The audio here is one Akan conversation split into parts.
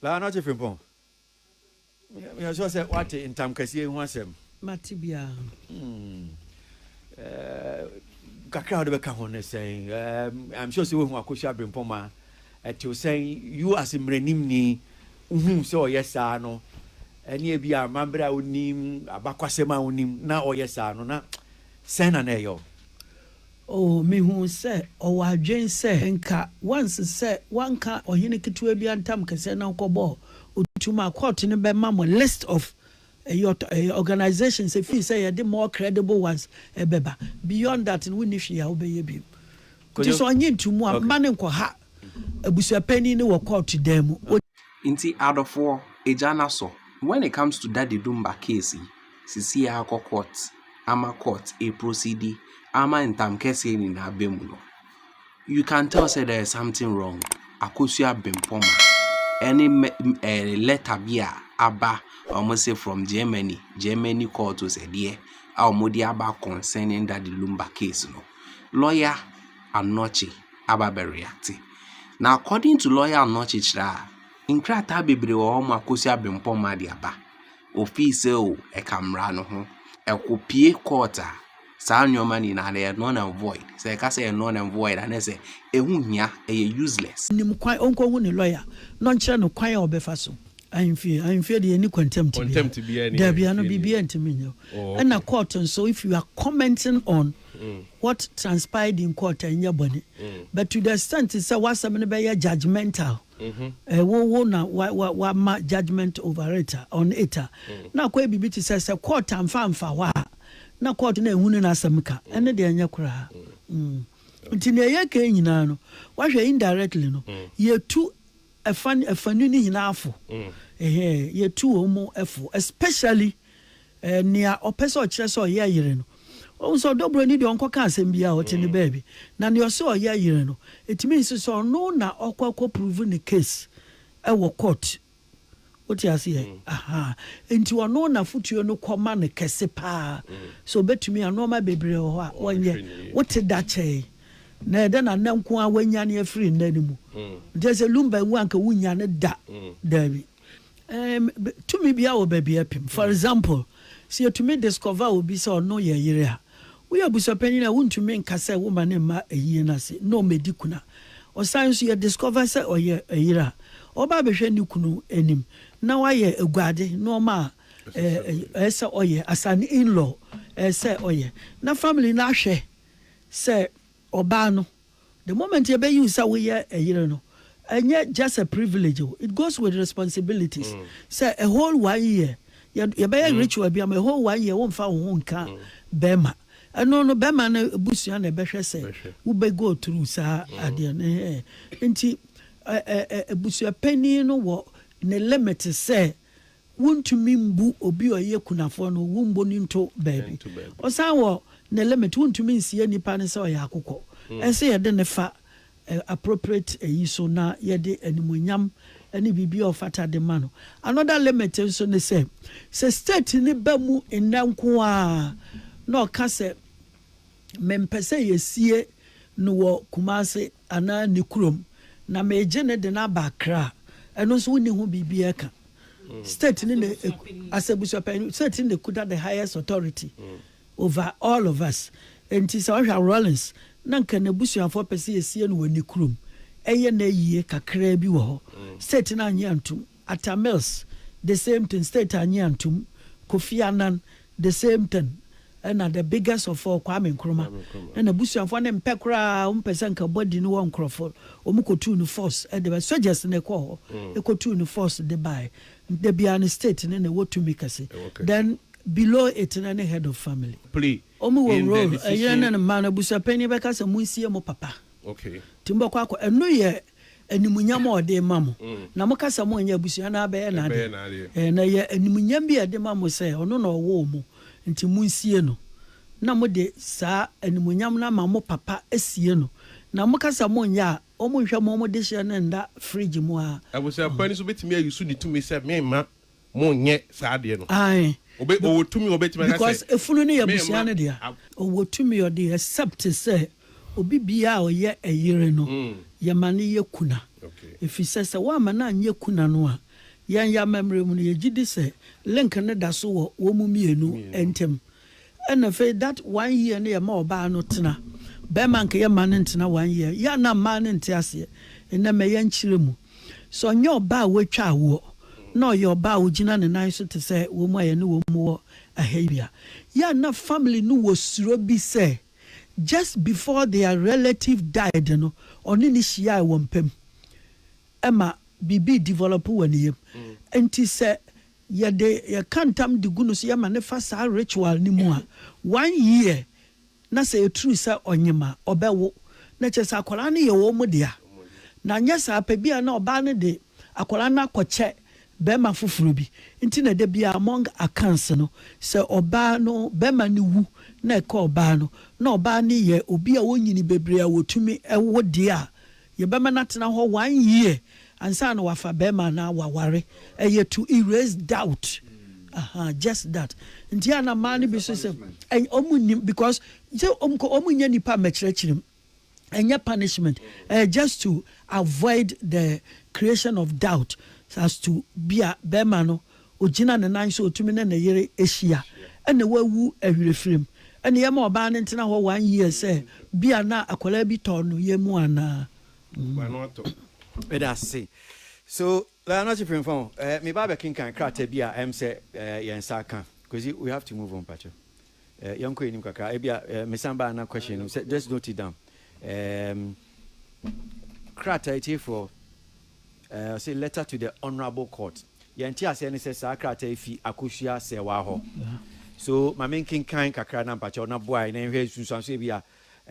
Baa no ɔte Frimpong. Meyɛ sure sɛ wate ntam kɛseɛ ho asɛm. Mate biara. Hmm. Eh, kakra a wode bɛka ho ne sɛn? Eh, I'm sure sɛ wohu Akosua Abrempong ma ɛtew sɛn you as mmaranimni wohu sɛ ɔyɛ saa no ɛne ebi a amammerɛ a wonim abakwasɛm a wonim na ɔyɛ saa no na sɛn na na ɛyɛ wo? Oo, mihuu sɛ ɔwɔ adwene sɛ. Nka wanse sɛ wanka ɔhene ketewa bi antam kɛseɛ na ɔkɔbɔɔ otu mu a court no bɛma mo list of organisations efii sɛ yɛde more credible ones bɛba beyond that no wonni hwee a wobɛyɛ bio nti sɛ ɔnye nto mu a mma no nkɔha abusuapanin no wɔ court dan mu. Nti adɔfoɔ, agya no asɔ. When it comes to Daddy Dumba case yi. Sisi a akɔ court ama court eprosidi ama ntam kɛseɛ nyina aba mu no, you can tell sɛ there is something wrong. Akosua Bempɔn ɛne mɛ ɛɛ letter bi a aba a wɔn se from Germany, Germany court o sɛ deɛ a wɔn de aba concerning that Lumba case no, lawyer Anokye aba abɛ react. Na according to lawyer Anokye kyerɛ a, nkrataa bebree wɔ hɔ a Akosua Bempɔn de aba. ofii sɛ o ɛka mmara no ho ɛko pie court a saa nneɛma no nyinaa no yɛ null and void sɛ yɛka sɛ ɛyɛ null and void a na ɛsɛ ɛho hia ɛyɛ useless. Nim kwan ɔnkɔhu ne lɔya na ɔnkyerɛ no kwan a ɔbɛfa so. Ahemfie ahemfie deɛ yɛnni contempt biara daabi ano biribiara ntumi nyɛ wo ɛna court nso if you are commenting on what transpired in court ɛnyɛ bɔne but to the extent sɛ w'asɛm no bɛyɛ judgemental Mhm. Eh, wo wo na wa wa wama judgement over it a, on it a, na akɔyɛ biribi te sɛ sɛ court amfa amfa hɔ a, na court na ehu ne n'asɛm ka. Ɛno deɛ ɛnyɛ koraa. Mm. Nti nea ɛyɛ kan nyinaa no, wahwɛ indirectly no, yɛtu ɛfa ɛfanu no nyinaa fo. Ɛhɛn, yɛtu wɔn mu fo, especially Ɛɛ, nea ɔpɛ sɛ ɔkyerɛ sɛ ɔyɛ yere no. Wohu sɛ ɔdɔ buroni deɛ ɔnkɔka asɛm biara, ɔte ne baabi. Na nea ɔse ɔyɛ yere no, ɛtumi nso sɛ ɔno na ɔkɔ akɔ prove ne case wɔ court. Wote aseɛ? Ahaa. Enti ɔno na afotuo no kɔ ma no kɛse paa. So ɔbɛtumi a, nnoɔma bebree wɔ hɔ a ɔnyɛ. Wote da kyɛ yi, na ɛyɛ dɛ na nnɛ nko ara wanyane afiri nna no mu. Nti ɛsɛ Lumba wu anka wonnya no da. Daabi. Tumi biara wɔ baabi a ɛpem. For example, sɛ yɛtumi discover obi sɛ ɔno yɛ yere a, woyɛ abusuapanyin a, wontumi nka sɛ woma ne mma ayie no ase na wɔmmɛdi kuna. Ɔsan nso, yɛ discover sɛ ɔyɛ yere a, ɔba abɛhwɛ ne kunu anim na wayɛ aguade, nnoɔma a ɛsɛ sɛ ɔyɛ as an in-law, ɛsɛ sɛ ɔyɛ. Na family no ahwɛ sɛ ɔbaa no The moment yɛbɛ use sɛ woyɛ ɛyere no, ɛnyɛ just a privilege o, it goes with responsibilities. Sɛ a whole one year yɛ yɛbɛyɛ ritual bi ama a whole one year wo nfa wo ho nka bɛɛma, ɛno no bɛɛma no abusua na ɛbɛhwɛ sɛ wo bɛ go through saa adeɛ no ɛhɛɛ. Nti ɛ ɛ ɛ abusuapanin no wɔ ne limit sɛ Wontumi mbu obi a ɔyɛ kunafoɔ no, wombo no nto baabi. Ɔsan wɔ ne limit, wontumi nsie nipa no sɛ ɔyɛ akokɔ. Ɛsɛ yɛde no fa appropriate ayi so na yɛde animuonyam ne biribi a ɔfata de ma no. Another limit nso ne sɛ, sɛ state no ba mu nnɛ nko ara na ɔka sɛ mempɛ sɛ yɛsie no wɔ Kumasi anaa ne kurom na meregye no de no aba Accra a, ɛno nso wonni ho biribi reka. state ne na as abusuapanyin state ne na ekuta the highest authority mm. over all of us nti sɛ ɔhwɛ Rawlings na nka n'abusuafoɔ pɛ sɛ esie no wɔ ne kurom ɛyɛ na yie kakraa bi wɔ hɔ mm. state na anyi antum Atta Mills the same thing state anyi antum Kofi Annan The same thing na the biggest of all Kwame Nkrumah na n'abusuafoɔ no mpɛ koraa, wɔn pɛ sɛ nka body no wɔ nkorɔfoɔ, wɔn kɔtuu no force de ba, soldiers na ɛkɔɔ hɔ kɔtuu no force de baeɛ, nti da biara no state no na ɛwɔ tumi kɛse, then below it no ne head of family. Wɔn wɔ role, ɛyere ne ne mma no, abusuapanin bɛka sɛ monsie mo papa, nti mobɛkɔ akɔ, ɛno yɛ. Animuonyam a ɔde rema mo. Na moka sɛ monyɛ abusua no abɛyɛ n'adeɛ. Na ɛyɛ animuonyam bi a ɛde ma mo sɛ ɔno na ɔwoo mo, enti monsie no. Na mode saa animuonyam no ama mo papa sie no. Na moka sɛ monyɛ a, wɔnhwɛ mo dehyeɛ no nna fridge mu a. Abusua pa ni nso bɛtumi ayi so ne tumi sɛ, Memma Mo nyɛ saa adeɛ no. Ae. Obe, ɔwɔ tumi a ɔbɛtumi aka sɛ, Because efunu no yɛ Me abusua mma no dea. a. Ɔwɔ tumi ɔde except sɛ obi biaa a ɔyɛ ɛyere no yɛma no yɛ kuna. Okay. Efisɛ sɛ woamma no anyɛ kuna no a, yɛn yɛ amammerɛ mu no yɛgyedi sɛ link no da so wɔ wɔn mmienu Mmienu. ntam. Ɛna afei that one year no yɛ ma ɔbaa no tena. Bɛɛma nka yɛ ma no ntena one year. Yɛ a na mmaa no nte aseɛ. Nnɛ mɛ yɛ nkyerɛ mu. Sɛ ɔnyɛ ɔbaa a watwa awoɔ na ɔyɛ ɔbaa a ɔgyina ne nan so te sɛ wɔn a yɛne wɔn wɔ ɛha yi a, yɛ a na family no wɔ suro bi sɛ just before their relative died no ɔne no hyiaɛ wɔ mpam. Ɛma biribi develop wɔ ne yam. Nti sɛ Yɛde yɛ ka ntam de gu no so yɛ ma no fa saa ritual no mu a one year na sɛ yɛ true sɛ ɔnyem a ɔbɛ wo na kyerɛ sɛ akwadaa no yɛ wɔn mo dea na anyɛ saa pɛ bia na ɔbaa no de akwadaa no akɔ kyɛ bɛɛma foforɔ bi nti na da biaa among accounts no sɛ ɔbaa no bɛɛma no wu na ɛka ɔbaa no na ɔbaa no yɛ obi a ɔnyini bebree a wɔtumi wo dea a Yɛbɛma no atena hɔ one year ansa na wafa barima anaa waware. Ɛyɛ to erase doubt. Aha, just that. Nti a na mmaa no bi nso sɛ ɛnyɛ, wɔn nnim because sɛ wɔn kɔ wɔn nyɛ nipa mmɛkyerɛkyerɛ mu. Ɛnyɛ punishment. Ɛyɛ just to avoid the creation of doubt as to bi a barima no Ɔgyina ne nan so, ɔtumi ne ne yere hyia, ɛna wawu awerɛfirim. Ɛna yɛma ɔbaa no ntena hɔ one year sɛ bia na akwadaa bi tɔ no yɛn mu anaa. Meda ase. So bɛa no ɔkye premfa o. Ɛɛ meba abɛkenkan krataa bi a ɛm sɛ ɛɛ yɛn nsa aka. Kwesi we have to move on pakyɛw. Eh, yɛnkɔ anim kakra. Ebia eh, mesan baa na question no sɛ just note it down. Um, krataa etiefoɔ eh, say letter to the honourable court. Yɛn te aseɛ ne sɛ saa krataa yi fi akosua sɛwa hɔ. So maame nkenkan kakra na mpakyɛw na boae na nhwɛ nsunsuanso bi a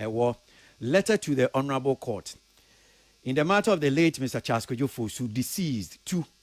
ɛwɔ eh, letter to the honourable court. In the matter of the late Mr. Charles Kwadwo Fosu, deceased, two,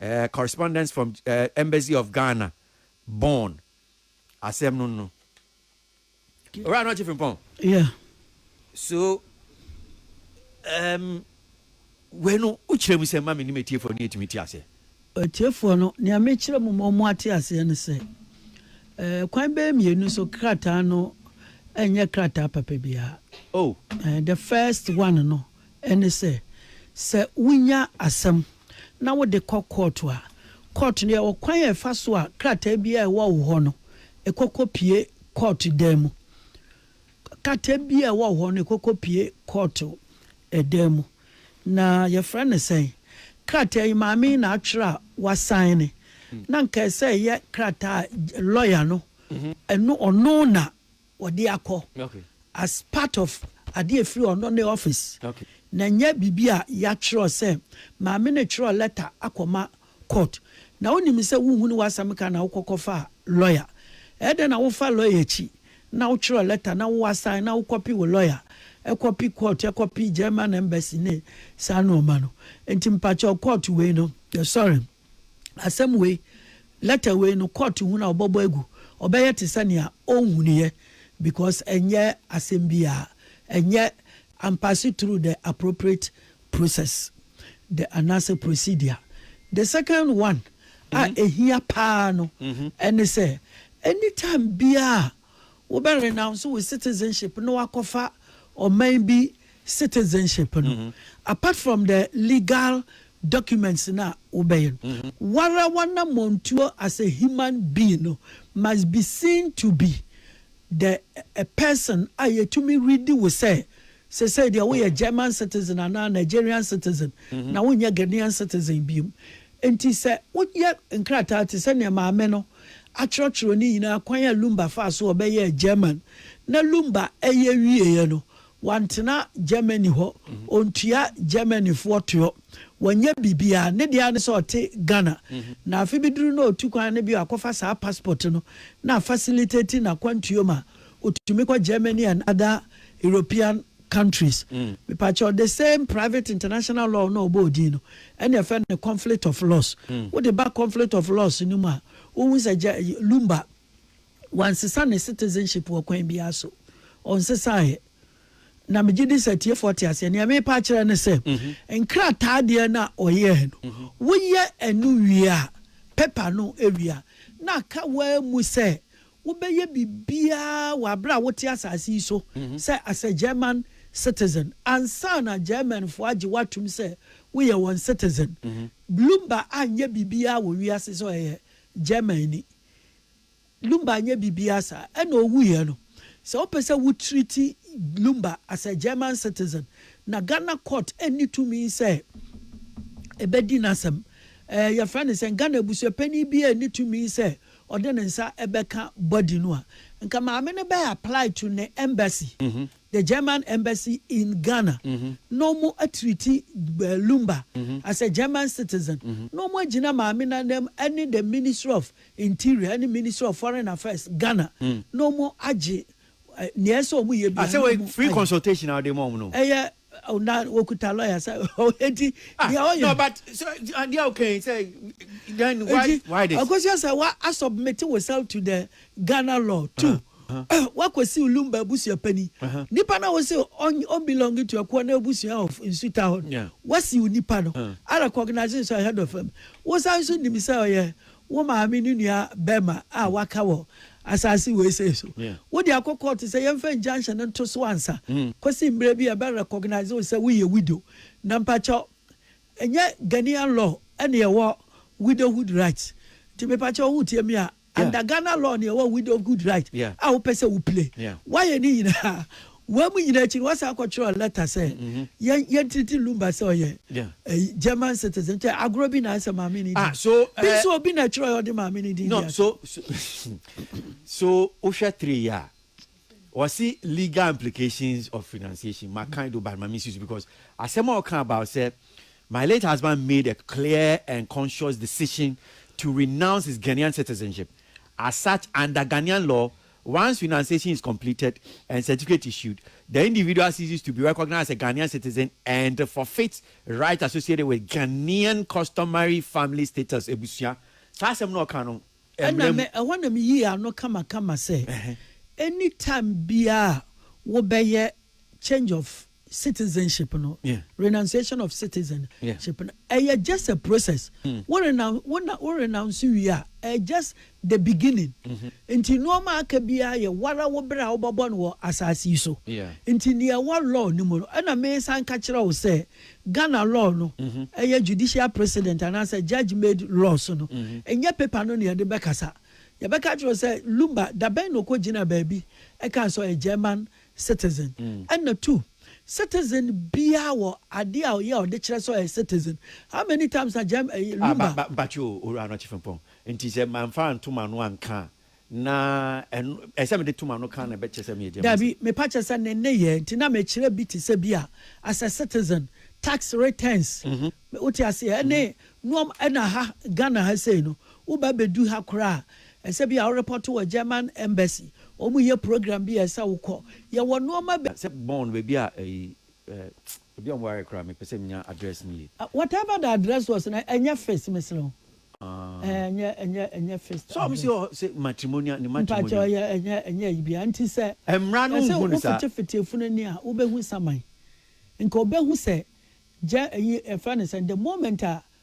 eh, correspondence from eh, Embassy of Ghana, Bonn. Asɛm no no. Owura no ɔkye frimpɔn. Yeah. So, um, wei no, wokyerɛ mu sɛ ma me ne matiefoɔ no yɛtumi te aseɛ. Atiefoɔ no, nea mekyerɛ mu ma ɔmo ate aseɛ no sɛ, eh, kwan bɛyɛ mmienu so krataa no ɛnyɛ krataa papa biara. Oh. Eh, the first one no. ne sɛ, sɛ wunya asɛm na wode kɔ kɔɔto a, kɔɔto no yɛ ɔkwan a ɛfa so a krataa biara a ɛwɔ wo hɔ no, ɛkɔ kɔpue kɔɔto dan mu. Krataa biara a ɛwɔ wo hɔ no, ɛkɔ kɔpue kɔɔto dan mu. Na yɛfrɛ no sɛn? Krataa yi, maame yi na atwerɛ a wasaene. Na anka ɛsɛ sɛ ɛyɛ krataa a lɔya no, ɛno, ɔno na. wɔde akɔ as part of adeɛ a ɛfiri ɔno ne office na ɛnyɛ biribi a yɛatwerɛ sɛ maame no twerɛ letter akɔma court na wonim sɛ wonhunu w'asɛm ka na wokɔ kɔfa lawyer ɛyɛ dɛn na wofa lawyer akyi na wotwerɛ letter na wo assign na wo copy wo lawyer ɛkɔpi court ɛkɔpi German embassy ne saa nnoɔma no nti mpakyɛw court wei no yɛsɔre asɛm wei, letter wei no, court hunu a wɔbɛbɔ agu, ɔbɛyɛ te sɛ nea onhunuiɛ because ɛnyɛ asɛm biara, ɛnyɛ ampase through the appropriate process the anaasɛ procedure. The second one a ɛhia paa no ɛne sɛ, anytime biara a. Wo bɛ renounce wo citizenship na wakɔ fa ɔman bi citizenship no apart from the legal documents no a wo bɛ yɛ no wara w'anamɔntuo as a human being no must be seen to be the a person a yɛtumi readi wo sɛ sesei deɛ wo yɛ German citizen anaa Nigerian citizen na wo nyɛ Ghanaian citizen biom nti sɛ wo yɛ nkrataa te sɛ neɛ maame no akyerɛkyerɛ ne nyinaa kwan a Lumba faa so a ɔbɛyɛɛ German. Na Lumba reyɛ wieeɛ no, wantena Germany hɔ, ɔntua Germanyfoɔ toɔ, wanyɛ biribiara, ne deɛ ara ne sɛ ɔte Ghana. Na afe bi duru na ɔtu kwan no bio akɔfa saa passport no na a facilitate n'akwantuo ma ɔtumi kɔ Germany and other European countries mepakyɛw the same private international law no a ɔbɔɔ din no ɛna ɛfɛ no conflict of laws wode ba conflict of laws no mu a wohu sɛ gya lumba wansesa ne citizenship wɔ kwan biara so ɔnsesaeɛ na megye di sɛ tiefoɔ te aseɛ nea mepa akyerɛ no sɛ nkrataa deɛ no a ɔyɛɛ no woyɛ ɛno wie a pepa no wie a na aka waa mu sɛ Wobɛyɛ biribiara wɔ aberɛ a wote asase yi so sɛ as a German citizen ansa na Germanfoɔ agye wo atom sɛ woyɛ wɔn citizen. Lumba anyɛ biribiara wɔ wiase sɛ ɔyɛ Germanni. Lumba anyɛ biribiara saa. Ɛna ɔwuiɛ no, sɛ wopɛ sɛ wo treati Lumba as a German citizen na Ghana court nni tumi sɛ ɛbɛdi n'asɛm. Ɛɛ yɛfrɛ no sɛn? Ghana abusuapanin biara nni tumi sɛ ɔde ne nsa bɛka body no a nka maame no bɛ apply to ne embassy, the German embassy in Ghana na ɔmo atreati Lumba as a German citizen na ɔmo agyina maame no anam ɛne the ministry of interior ɛne ministry of foreign affairs Ghana na ɔmo agye nea ɛsɛ ɔmo yɛ biara na ɔmo ayɛ. Ɛyɛ Oh, na wɔkuta lawyer sɛ ɔdi ah, deɛ ɔyɛ no but so adeɛ a wokan sɛ then why why this akosua sɛ wa asubmit woself to the Ghana law too wakɔsi Lumba abusua pani nipa na wɔsi ɔnbelong to ɛkoɔ na abusua of nsuta hɔ wasi nipa no a recognizing sɛ head of fam wosan nso nim sɛ ɔyɛ wo maame ne nua bɛrima a waka wɔ asase wei sei so. Wode akɔ kɔɔto sɛ yɛmfa injunction no nto so ansa kɔsi mmerɛ bi a ɛbɛ recognize wo sɛ woyɛ widow. Na mpakyɛw, ɛnyɛ Ghanaian law ɛne ɛwɔ widowhood right. Nti mepakyɛw wotie me a, under Ghana law ne ɛwɔ widowhood right a wopɛ sɛ wo play. Woayɛ ne nyinaa, Wɔn mu nyinaa akyi no, wɔsan kɔtwerɛɛ lɛta sɛ, Yɛn, yɛntreati Lumba sɛ ɔyɛ ɛyi, German citizen. Nkyɛ agorɔ bi na ayɛ sɛ maame no din. Bi nso obi na ɛtwerɛeɛ a ɔde maame no din de ato. So wohwɛ three yi a, wɔse legal implications of renunciation, makan do but ma mensi so because asɛm a ɔka about sɛ my late husband made a clear and conscious decision to renounce his Ghanaian citizenship as such under Ghanaian law Once financiation is completed and certificate issued, the individual ceases to be recognized as a Ghanaian citizen and forfeits rights associated with Ghanaian customary family status, abusua. Saa asɛm no a ɔka no, ɛna mmra mu. me, ɛhɔ na me yii ano kamakama sɛ, Ɛhɛ. any time biara a wo bɛyɛ change of. citizenship no renunciation of citizen ship no ɛyɛ just a process wo renounce wo na wo renounce wie a ɛyɛ just the beginning nti nneɛma aka biara yɛ wara wo bere a wobɛbɔ no wɔ asase yi so nti nea ɛwɔ law no mu no ɛna mesan ka kyerɛ wo sɛ Ghana law no ɛyɛ judicial precedent anaasɛ judge made laws no ɛnyɛ paper no na yɛde bɛkasa yɛbɛka kyerɛ wo sɛ Lumba dabɛn na ɔkɔ gyina baabi ɛka sɛ ɔyɛ German citizen ɛna two citizen biaa wɔ adeɛ a ɔyɛ a ɔde kyerɛ sɛ ɔyɛ citizen how many times na gyɛm ɛyi Ah, lumba. ba, ba, mpakyɛ o, Owura Anɔkye Frimpong, nti sɛ manfa anto m'ano anka a, na ɛno, ɛsɛ sɛ mede to m'ano ka a na ɛbɛkyerɛ sɛ meyɛ German Daabi, citizen? mepa kyɛ sɛ ne nneyɛɛ nti na mekyerɛ bi te sɛ bi a, as a citizen, tax returns, wote aseɛ, ɛne nnoɔma, ɛna ha, Ghana ha sei no, woba bɛdu ha koraa a, Ɛsɛ bi a wo repɔto wɔ German embassy ɔmu yɛ program bi a ɛsɛ wo kɔ yɛ wɔ nnoɔma bi. Sɛ Bonn baabi a ɛyi eh ebi a ɔmo ware koraa mepɛ sɛ menya address no yie. Whatever the address was no ɛnyɛ fist mesrɛ wo eh ɛnyɛ ɛnyɛ ɛnyɛ fist address. Sɛ ɔmo se ɔhɔ sɛ matrimonial ne matrimonial. Mpakyɛ ɔyɛ ɛnyɛ ɛnyɛ ayi biara nti sɛ. Ɛmmra no nhu no saa. Ɛsɛ wo fete fete efunu ani a wo bɛ hu saman nka ɔbɛ hu sɛ gya ɛyi ɛfrɛ no sɛn the moment a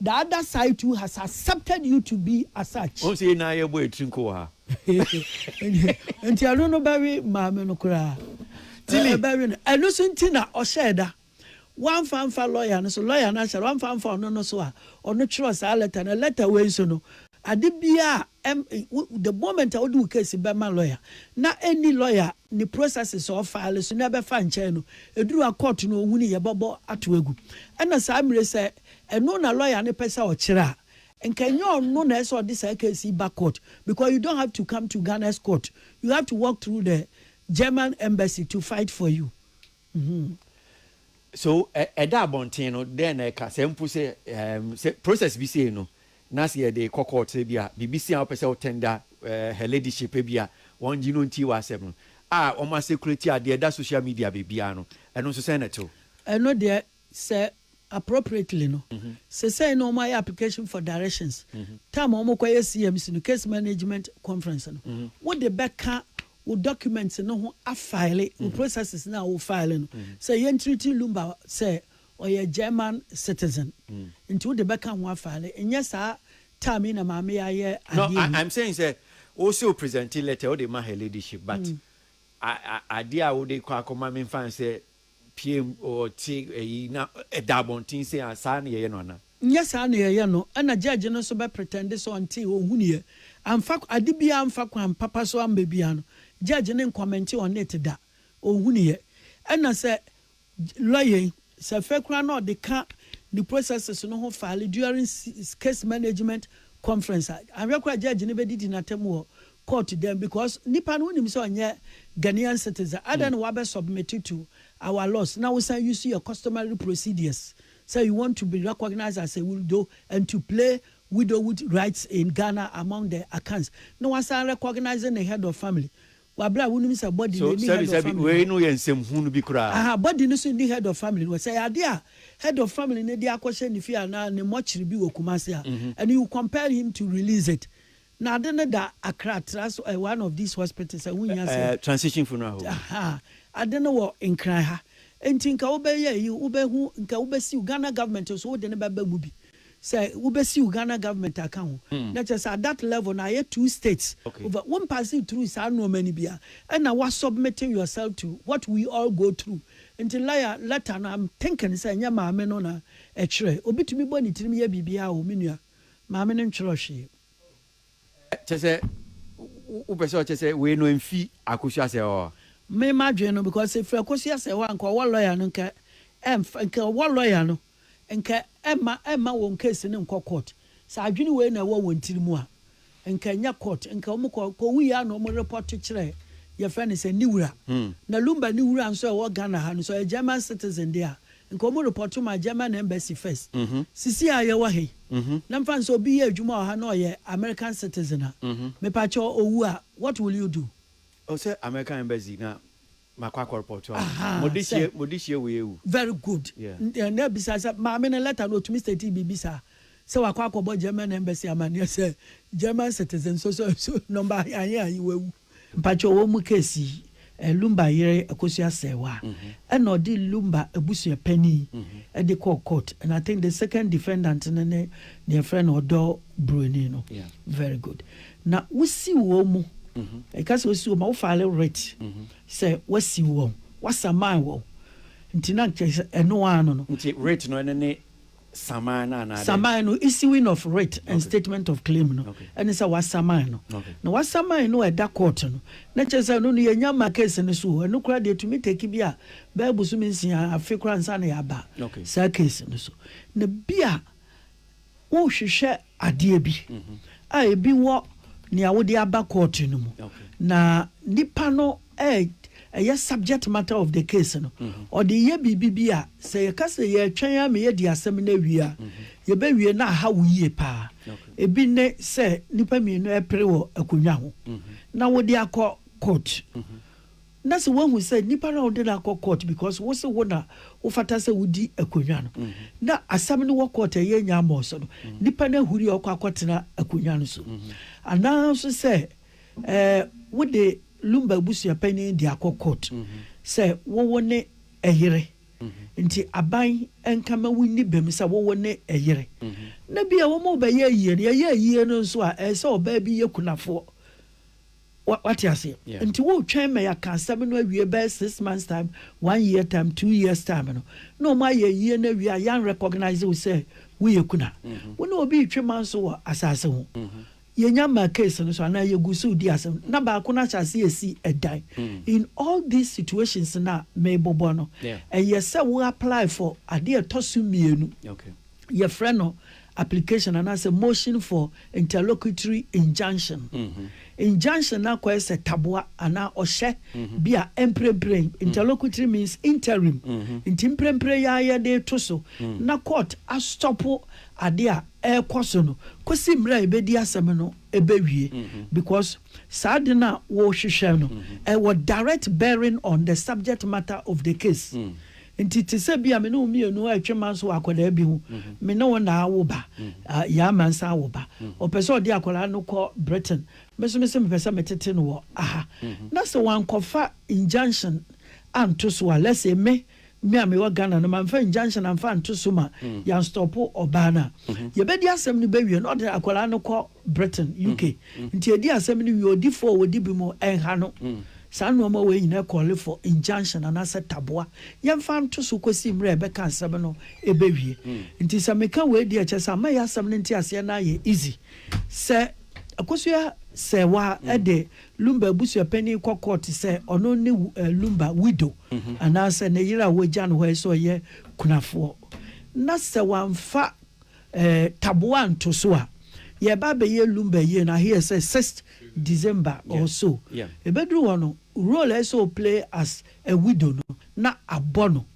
The other side too has accepted you to be as such. Wohu sɛ yɛn nyinaa yɛbɔ yɛn tiri nko wɔ ha. Nti ɛno no bɛwe maame no koraa. Tilly. Ɛbɛwe no. Ɛno nso nti na ɔhyɛɛ da. Wamfa amfa lɔya no so. Lɔya no ahyɛ da. Wamfa amfa ɔno no so a ɔno twerɛɛ saa lɛta no. Lɛta wei nso no, ade biara a ɛm, wo, the moment a wode wo case bɛma lɔya na ɛnni lɔya a ne processes a ɔfile so na ɛbɛfa nkyɛn no, ɛduru a court no ɔhu no yɛbɛbɔ ato agu. Ɛna saa mmerɛ yi sɛ Ɛno na lawyer no pɛ sɛ ɔkyerɛ a, nka ɛnyɛ ɔno na ɛsɛ sɛ ɔde saa case yi ba court because you don't have to come to Ghana's court, you have to walk through the German embassy to fight for you. Mm-hmm. So ɛda abɔnten no dɛn na ɛka sɛ mpo sɛ um, sɛ process bi sei no na sɛ yɛde kɔ court sɛ bi a biribi si a wopɛ sɛ wotɛnda uh, her ladyship bi a wɔn gye no nti wɔ asɛm no a wɔn asɛkulati adeɛ da social media biribiara no ɛno nso sɛn na ɛtew? Ɛno deɛ Sɛ appropriately no, sesei no wɔayɛ application for directions, time a wɔkɔyɛ CMC no, Case Management Conference no, wode bɛka wo documents no ho afile wo processes no a wo file no, sɛ yɛntreati Lumba sɛ ɔyɛ German citizen nti wode bɛka ho afile, nyɛ saa time yi na maame yi ayɛ adeɛ yi. No, I'm saying sɛ wose wo presente letter wode ma her ladyship but adeɛ a wode kɔ akɔma memfa nsɛ Ɔpieeɛm, ɔte ayi na ɛda abɔnten sei a, saa na yɛyɛ no anaa? Nyɛ saa na yɛyɛ no, ɛna judge no nso bɛ pretend sɛ ɔntee, ɔnhunuiɛ, amfa ade biara amfa kwan papa so amma biara no, judge no ncommente on it da, ɔnhunuiɛ. Ɛna sɛ lawyer yi, sɛ afei koraa na ɔde ka ne processes no ho file during case management conference a, anhwɛ koraa a judge no bɛdidi no atɛm wɔ court dɛn because nipa no wonim sɛ ɔnyɛ Ghanaian citizen adɛn na wabɛ submit to our laws na wosan use yɛ customary procedures sɛ you want to be recognised as a widow and to play widowhood rights in Ghana among the Akans na wasan recognise ne head of family wɔ berɛ a wonim sɛ body no So ɛnni sɛbi head of sɛbi family wei no no yɛ nsɛm hunu bi koraa. Aha, body no so nni head of family no hɔ. Sɛ ɛyɛ adeɛ a head of family no de akɔhyɛ ne fie anaa ne mortuary bi wɔ Kumasi a, and you compel him to release it, Na ade no da akra tra so ɛ one of these hospitals ɛ ho hia sɛ. Ɛ transition funeral home. Ahaa ade no wɔ nkran ha nti nka wo bɛ yɛ ayi wo bɛ hu nka wo bɛ siw Ghana government nso wo de no bɛ ba mu bi sɛ wo bɛ siw Ghana government aka ho na kyɛ sɛ at that level no ayɛ two states okay. over wo mpaase through saa nnoɔma no bia ɛna wa submitting yourself to what we all go through nti laya letter no I'm thinking sɛ ɛnyɛ maame no na ɛkyerɛ obi tumi bɔ ne tirim yɛ biribiara o me nua. maame no ntwerɛ hwee. Kyɛ sɛ wo pɛ sɛ ɔkyɛ sɛ wei no ɛmfi Akosua Asɛe hɔ? Me m'adwene no because sɛ ɛfiri Akosua Asɛe hɔ a nka ɔwɔ lawyer no nka ɛmfa nka ɔwɔ lawyer no nka ɛmma ɛmma wɔn case no nkɔ court. Sɛ adwene wei na ɛwɔ wɔn tiri mu a Nka ɛnyɛ court nka ɔmo kɔ kɔ wui a na ɔmo report kyerɛ yɛfrɛ no sɛ ne wura. Na Lumba ne wura nso a ɛwɔ Ghana ha no nso ɔyɛ German citizen de a nka ɔmo report ma German embassy first. Sisi a yɛwɔ ha yi na mfa no sɛ obi yɛ adwuma wɔ ha na ɔyɛ American citizen a mepa kyɛw owu a what will you do? Ɔsɛ American embassy na Makɔ akɔ repɔɔto ɔmo. Ahaa, Mo de sɛ. hyie, mo de hyie wei awu. Very good. Yeah. N- eh, Na ebisa sɛ maame no lɛta no otumi state biribi saa sɛ wakɔ akɔbɔ German embassy amaneɛ sɛ German citizen so so so number ahe ahe ahe wawu. Mpakyɛw wɔ mu case yi eh, Lumba yere Akosua Serwaa ɛna ɔde Lumba abusua panin ɛde kɔɔ court and I think the second defendant no ne deɛ yɛfrɛ no Ɔdɔ Buroni no. Yeah. Very good. Na wosiw wɔn mu. Ɛka sɛ wosiw wɔn mu a, wofile writ sɛ woasiw wɔn, woasaman wɔn. Nti na kyerɛ sɛ ɛno ara no no. Nti writ no ɛno ne saman no anaa dɛn? Saman no, issuing of writ and statement of claim no, ɛne sɛ woasaman no. Na woasaman no a ɛda court no, na kyerɛ sɛ ɛno no yɛnnya mma case no so o. Ɛno koraa deɛ ɛtumi take bi a bɛyɛ bosome nsia, afe koraa ansa na yɛaba saa case no so. Na bi a. Worehwehwɛ adeɛ bi a ebi wɔ nea wode aba kɔɔto no mu na nipa no ɛyɛ subject matter of the case no, ɔde reyɛ biribi bi a, sɛ yɛka sɛ yɛretwɛn ara ma yɛadi asɛm no awie a, yɛbɛwie na aha wo yie pa ara. Ebi ne sɛ nnipa mmienu repere wɔ akonnwa ho na wode akɔ court. Na sɛ woahu sɛ nipa no a wode no akɔ court because wo se wo na wofata sɛ wodi akonwa no, na asɛm no wɔ court a ɛyɛ nya mmɔɔ so no, nipa no ahuri a ɔkɔ akɔtena akonwa no so. Anaa nso sɛ eh, wode Lumba abusua panyin de akɔ court sɛ wowo ne ɛyere nti aban nka ma wonni bem sɛ wowo ne ɛyere. Na bia wɔma wobɛyɛ ayie no, yɛyɛ ayie no nso a ɛsɛ ɔbaa bi yɛ kunafoɔ. Wate aseɛ? Nti woretwɛn ma yɛaka asɛm no awie bɛyɛ six months time, one year time, two years time no, na wɔn ayɛ ayie no awie a yɛn recognise wo sɛ woyɛ kuna. Wo ne obi retwe manso wɔ asaase ho. Yɛnya mmaa case no so anaa yɛgu so redi asɛm no, na baako no ahyɛ aseɛ resi ɛdan. In all these situations no a merebobɔ no, ɛyɛ sɛ wo apply for adeɛ a ɛtɔ so mmienu. yɛfrɛ no application anaasɛ motion for interlocutory injunction. Injunction no akɔyɛ sɛ taboa anaa ɔhyɛ bi a mprempren, interlocutory means interim, nti mprempren yi ara yɛde reto so na court astɔpo ade a ɛrekɔ so no kɔsi mmerɛ a yɛbɛdi asɛm no bɛwie because saa ade no a wɔrehwehwɛ no, ɛwɔ direct bearing on the subject matter of the case. Nti te sɛ bi a me ne wo mmienu retwe manso wɔ akwadaa bi ho, me ne wo na awo ba, yɛn ama nsa awo ba, ɔpɛ sɛ ɔde akwadaa no kɔ Britain, me nso mese mepɛ sɛ metete no wɔ ha, na sɛ wankɔfa injunction anto so a, let's say me, me a mewɔ Ghana no, mamfa injunction amfa anto so ma yɛanstɔpo ɔbaa no a, yɛbɛdi asɛm no bɛwie na ɔde akwadaa no kɔ Britain, UK. Nti edi asɛm no wie, odifo a odi bem ɛnha no. Saa nnoɔma wei nyinaa call for injunction anaasɛ taboa. Yɛmfa nto so kɔsi mmerɛ a yɛbɛka asɛm no ɛbɛwie. Nti sɛ meka wei deɛ ɛkyerɛ sɛ ama yɛ asɛm no nteaseɛ no ayɛ easy. Sɛ Akosua Serwaa de Lumba abusuapanin kɔ court sɛ ɔno ne Lumba widow anaasɛ ne yere a wɔagya no hɔ yi sɛ ɔyɛ kunafoɔ na sɛ wamfa Ɛɛ taboa nto so a yɛreba abɛyɛ lumber yie no I hear sɛ sixth December or so. Ɛbɛduru hɔ no role a ɛsɛ sɛ o play as a widow no na abɔ no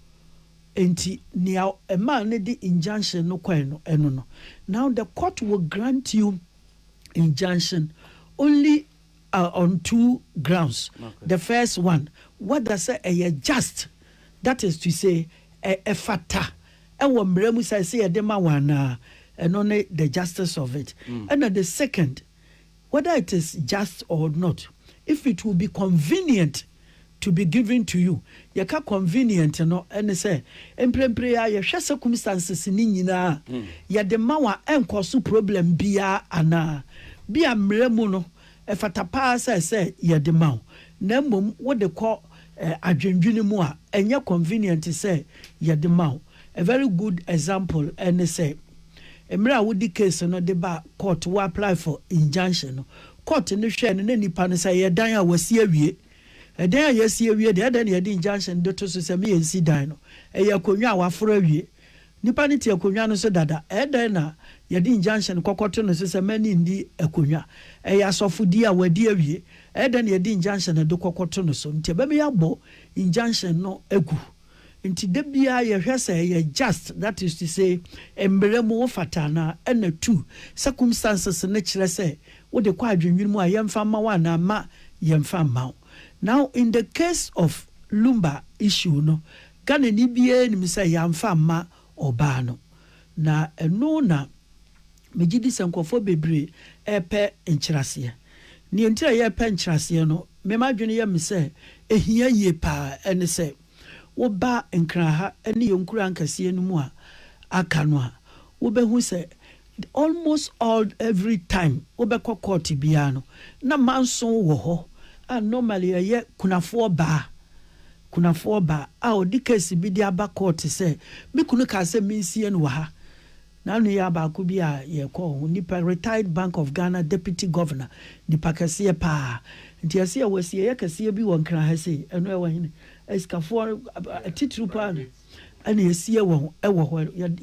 nti nea ɛmaa no de injunction no kɔe no ɛno no. Now the court will grant you injunction only on two grounds the first one whether sɛ ɛyɛ just that is to say ɛfata ɛwɔ mmara mu sɛ ɛsɛ yɛde ma wɔn anaa ɛno ne the justice of it ɛna the second whether it is just or not if it will be convenient. to be given to you. Yɛka convenient no, ɛne sɛ, mprempren yi ara yɛhwɛ circumstances no nyinaa a, yɛde ma wo a, ɛnkɔ so problem biara anaa? Bi a mmara mu no, ɛfata pa ara sɛ sɛ yɛde ma wo, na mmom wode kɔ adwendwene mu a, ɛnyɛ convenient sɛ yɛde ma wo. A very good example ne sɛ, mmerɛ a wode case no de ba court, wo apply for injunction no, Court no hwɛɛ no na nipa no sɛ ɛyɛ dan a wasi awie. Ɛdan a yɛasi awie deɛ ɛdɛn na yɛde injunction de to so sɛ me yɛnsi dan no? Ɛyɛ akonnwa a waforo awie. Nipa no te akonnwa no so dada. Ɛdɛn na yɛde injunction kɔkɔ to no so sɛ mɛne nni akonnwa? Ɛyɛ asɔfodie a wadi awie. Ɛdɛn na yɛde injunction de kɔkɔ to no so? Nti ɛbɛma yɛabɔ injunction no agu. Nti da biara yɛhwɛ sɛ ɛyɛ just that is to say mmerɛ mu wo fata anaa ɛna two circumstances no kyerɛ sɛ wo de kɔ adwennwene mu a yɛmfa mma wo anaa mma yɛmfa mma wo. Now in the case of Lumba issue no Ghanani biara nim sɛ yɛamfa mma ɔbaa no na ɛno na Megye di sɛ nkurɔfoɔ bebree repɛ nkyerɛaseɛ. Deɛ nti a yɛrepɛ nkyerɛaseɛ no, me m'adwene yɛ me sɛ ɛhia yie pa ara ne sɛ, woba Nkran ha ne yɛn nkuro ankɛseɛ no mu a aka no a, wobɛhu sɛ almost all every time wobɛkɔ court biara no, na manso wɔ hɔ a normally ɛyɛ kunafoɔ baa, kunafoɔ baa a ɔde case bi de aba court sɛ, me kunu kaa sɛ mensie no wɔ ha. Na nua baako bi a yɛkɔ ɔho nipa retired bank of Ghana deputy governor nipa kɛseɛ paa nti ɛse yɛwɔ asieɛ kɛseɛ bi wɔ nkran ha sei ɛno ɛwɔ hene asikafoɔ atitiriw paa no ɛna ɛsie wɔ ɛwɔ hɔ